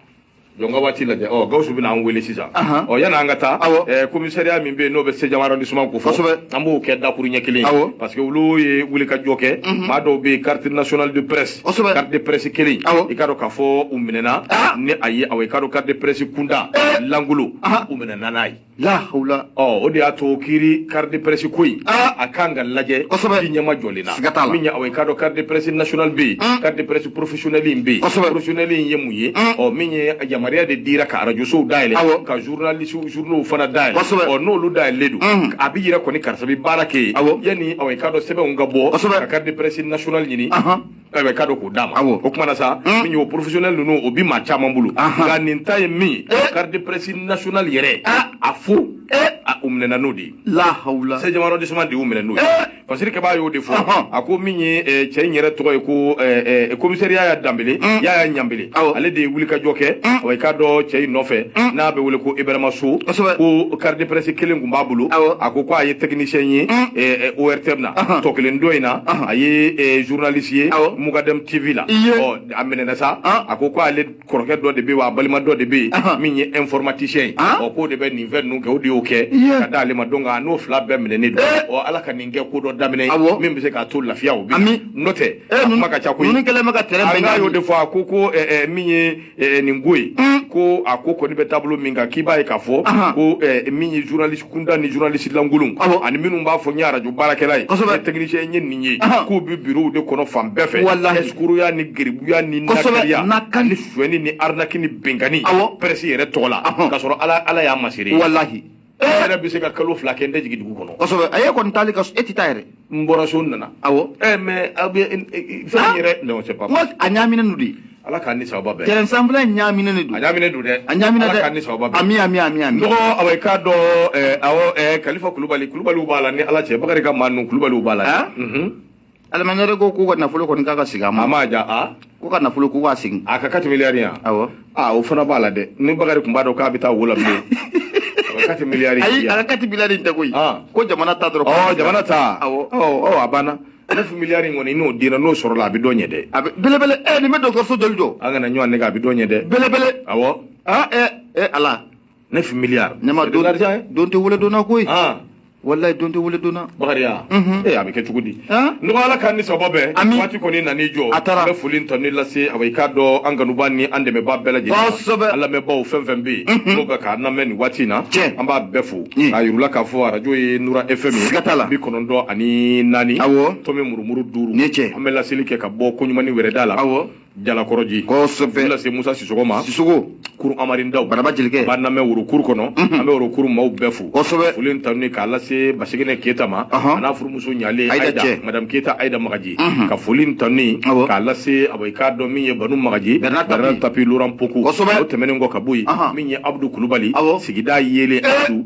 jɔ an ka waati lajɛ ɔ gawusu bɛna an wele sisan ɔ yanni an ka taa komisariya min bɛ yen n'o bɛ seizième arrondissement ko fɔ an b'o kɛ dakuruɲɛ kelen ye parce que olu ye wulikajɔ kɛ mhm. maa dɔw bɛ yen carte nationale de presse carte de presse kelen i k'a dɔn k'a fɔ u minɛna ah. n'a ye awa i k'a dɔn carte de presse kuntan lankolon u minɛna n'a ye la hawla ɔ o de y'a to kiri carte de presse ko in ah! a ka kan ka lajɛ kosɛbɛ i ɲɛmajɔlen na siga t'a la min ye awa i k'a dɔn carte de presse nationale bɛ yen hmm. carte de presse professionnelle in bɛ yen kosɛbɛ professionnelle in ye mun ye hmm. ɔ min ye yamaruya de dira ka arajosow dayɛlɛ awɔ ka journaliste journaux fana dayɛlɛ kosɛbɛ ɔ n'olu dayɛlɛlen don hmm. a bɛ yira kɔni karisa bɛ baara kɛ yen awɔ yanni awa i k'a dɔn sɛbɛnw ka bɔ kosɛbɛ ka carte de presse nationale ɲini awa i k'a dɔn k'o d'a ma awɔ o tuma na sa min y'o professionnel ninnu o bɛ maa caman bolo nka nin ta ye min ye eh. carte de presse nationale yɛrɛ ah. a fɔ eh. a u minɛna n'o de ye lahawula seizième arrondissement de y'u minɛ n'o ye fasiri kɛbaa y'o de fɔ a ko min ye cɛ in yɛrɛ tɔgɔ ye ko commissaire yaya danbele yaya ɲanbele ale de ye wulikajɔ kɛ mm. awa i k'a dɔn cɛ in nɔfɛ mm. n'a bɛ wele ko ibrahima so ko carte de presse kelen tun b'a bolo a ko ko a ye technicien ye mm. eh, eh, ortm na uh-huh. tɔ kelen dɔ in na uh-huh. a ye eh, journaliste ye mugadɛm tv la a minɛna sa uh-huh. a ko ko ale kɔrɔkɛ dɔ de bɛ yen wa a balima dɔ de bɛ yen min ye informaticien ye ɔ k'o de bɛ nin fɛn ninnu kɛ o de y'o kɛ ka d'ale ma donc a n'o fila bɛɛ minɛnen don ɔ ala ka nin kɛ ko dɔ daminɛ ye min bɛ se ka tɔw lafiya o bɛ n'o tɛ a kuma ka ca koyi ninnu kɛlen bɛ ka tɛrɛn bɛɛ ɲagami y'o de fɔ a ko ko ɛɛ min ye nin ko ye ko a ko kɔni bɛ taabolo min kan k'i b'a ye k'a fɔ ko min ye journaliste kuntan ni journaliste lankolon ani minnu b'a fɔ n ye arajo baarakɛla ye kosɛbɛ technicien n ye nin ye k'u bɛ bureau de kɔnɔ fan bɛɛ fɛ walahi eskuruya ni geribuya ni nakariya ni sonyani ni arnaque ni binkanni presse yɛrɛ tɔgɔ la k'a sɔrɔ ala y'a masiri walahi e yɛrɛ bɛ se ka kalo fila kɛ n tɛ jigin dugu kɔnɔ kosɛbɛ a ye kɔni taali ka e tɛ taa yɛrɛ n bɔra so n nana awɔ ɛ mais aw bɛ fɛn yɛrɛ non c'est pas n ko a ɲaaminen don de ala k'an ni sababa bɛn tɛrɛn ensemble a ɲaaminen de don a ɲaaminen don dɛ a ɲaaminen dɛ ala k'an ni sababa bɛn ami ami ami ami dɔgɔ awɔ i k'a dɔn awɔ kalifa kulubali kulubaliw b'a la ni ala cɛ bakari ka maa ninnu kulubaliw b'a la dɛ aliman yɛrɛ ko k'u ka nafolo kɔni k'a ka sigi a ma a ma ja a k'u ka nafolo k'u k'a sigi a ka kati miliyari yan awɔ a o fana b'a la dɛ ni bakari tun b'a dɔn k'a bɛ taa wo la bilen a ka kati miliyari ayi a ka kati miliyari in tɛ koyi ah. ko jamana ta dɔrɔn ɔ jamana ta awɔ ɔ a banna nefu miliyari in kɔni n'o dira n'o sɔrɔla a bɛ dɔ ɲɛ dɛ a bɛ belebele ɛ nin bɛ dɔgɔtɔrɔso joli jɔ an kana ɲɔgɔn nɛgɛn a bɛ dɔ ɲɛ dɛ belebele awɔ aa ɛ ɛ ala nefu miliyari ne m'a dɔn don tɛ wele donna koyi walayi don tɛ wele donna bakariya ee a bɛ kɛ cogo di n ko ala k'an ni sababa bɛn waati kɔni nan'i jɔ a taara bɛ foli tɔ ni lase a i k'a dɔn an kanubaa ni an dɛmɛbaa bɛɛ lajɛlen kosɛbɛ an lamɛnbaaw fɛn fɛn bɛ yen n'o bɛ k'an lamɛn nin waati in na tiɲɛ an b'a bɛɛ fo k'a yir'u la k'a fɔ arajo ye nura fm ye siga t'a la bi kɔnɔntɔn ani naani awɔ tɔmi murumuru duuru ni cɛ an bɛ laseli kɛ ka bɔ koɲumani wɛrɛda la awɔ jalakɔrɔji kosɛbɛ lase musa sisɔgɔ ma sisɔgɔ kuru amarindaw baraba jelikɛ b'an lamɛn worokuru kɔnɔ an bɛ worokuru maaw bɛɛ fo kosɛbɛ foli ni tanuni k'a lase basigene keyita ma a n'a furumuso ɲalen ayida cɛ madame keyita ayida magaji ka foli ni tanuni k'a lase abo i k'a dɔn min ye banu magaji bernard tapie laurent pokou kosɛbɛ o tɛmɛnen kɔ ka bɔ yen min ye abudu kulubali sigida yeelen abdu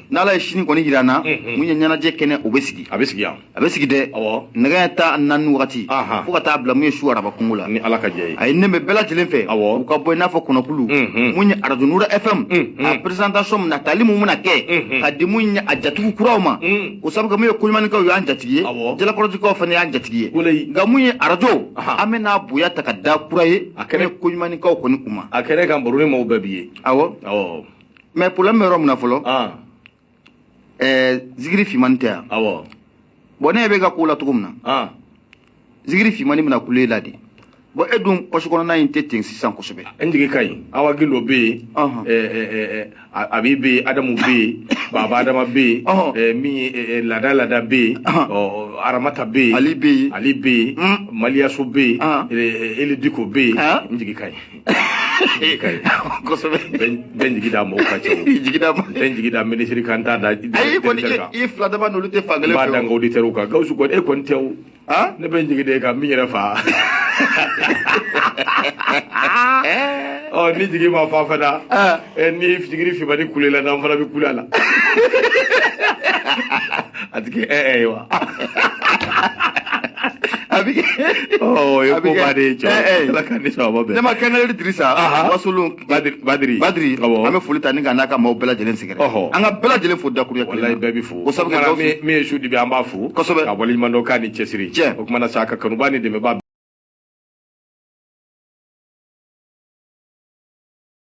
n'ala ye sini kɔni jira an na mun ye ɲɛnajɛ kɛnɛ o bɛ sigi a bɛ sigi yan a bɛ sigi dɛ nɛgɛ ɲɛ tan naani wagati fo ka taa bila mun ye su araba kungo la ni ala ka jɛn ye a ye ne bɛ bɛɛ lajɛlen fɛ u ka bɔ i n'a fɔ kɔnɔkulu mun ye arajo nura fm a presentation min na tali mun bɛna kɛ ka di mun ye a jatigiw kuraw ma o sabu mun ye koɲumanikaw y'an jatigi ye jalakɔrɔjikaw fana y'an jatigi ye nka mun ye arajo an bɛ n'a bonya ta ka da kura ye a kɛnɛ koɲumanikaw kɔni kuma a kɛnɛ kan baro ni maaw bɛɛ bi ye awɔ mais problème bɛ yɔrɔ min na fɔlɔ zigiri fimani tɛ yan bon ne bɛ ka ko la cogo min na zigiri fimani bɛna kule la de bon e dun pɔsi kɔnɔna in tɛ ten sisan kosɛbɛ n jigi ka ɲi awa gilo bɛ yen abi bɛ yen adamu bɛ yen baba adama bɛ yen min ye laada laada bɛ yen aramata bɛ yen ali bɛ yen ali bɛ yen maliyaso bɛ yen eli diko bɛ yen n jigi ka ɲi kosɛbɛ bɛ n jigi da mɔgɔ kan cɛ bɛ n jigi da minisiri kan t'a da ayi kɔni i fila dama n'olu tɛ fankelen fɛ b'a da n ka oditɛriw kan gawusu kɔni e kɔni tɛw ne bɛ n jigi d'e kan min yɛrɛ fa ɔ ni jigi ma fa fana eh, ni fitigiri fibani kulela n'an fana bɛ kule a la a ti kɛ ɛɛ eh, eh, wa a bi kɛ o ye ko ba de ye cɛ ala ka ni sababa bɛn ne ma kɛnɛrɛ dirisa wasolon badiri badiri badiri an bɛ foli ta ni ka n'an ka maaw bɛɛ lajɛlen sɛgɛrɛ an ka bɛɛ lajɛlen fo dakuruya kelen walayi bɛɛ bɛ fo o sabu kɛ min ye su dibi an b'aw fo kosɛbɛ k'aw waleɲuman dɔn k'aw ni cɛsiri cɛ o kuma na sa ka kanubaa ni dɛmɛbaa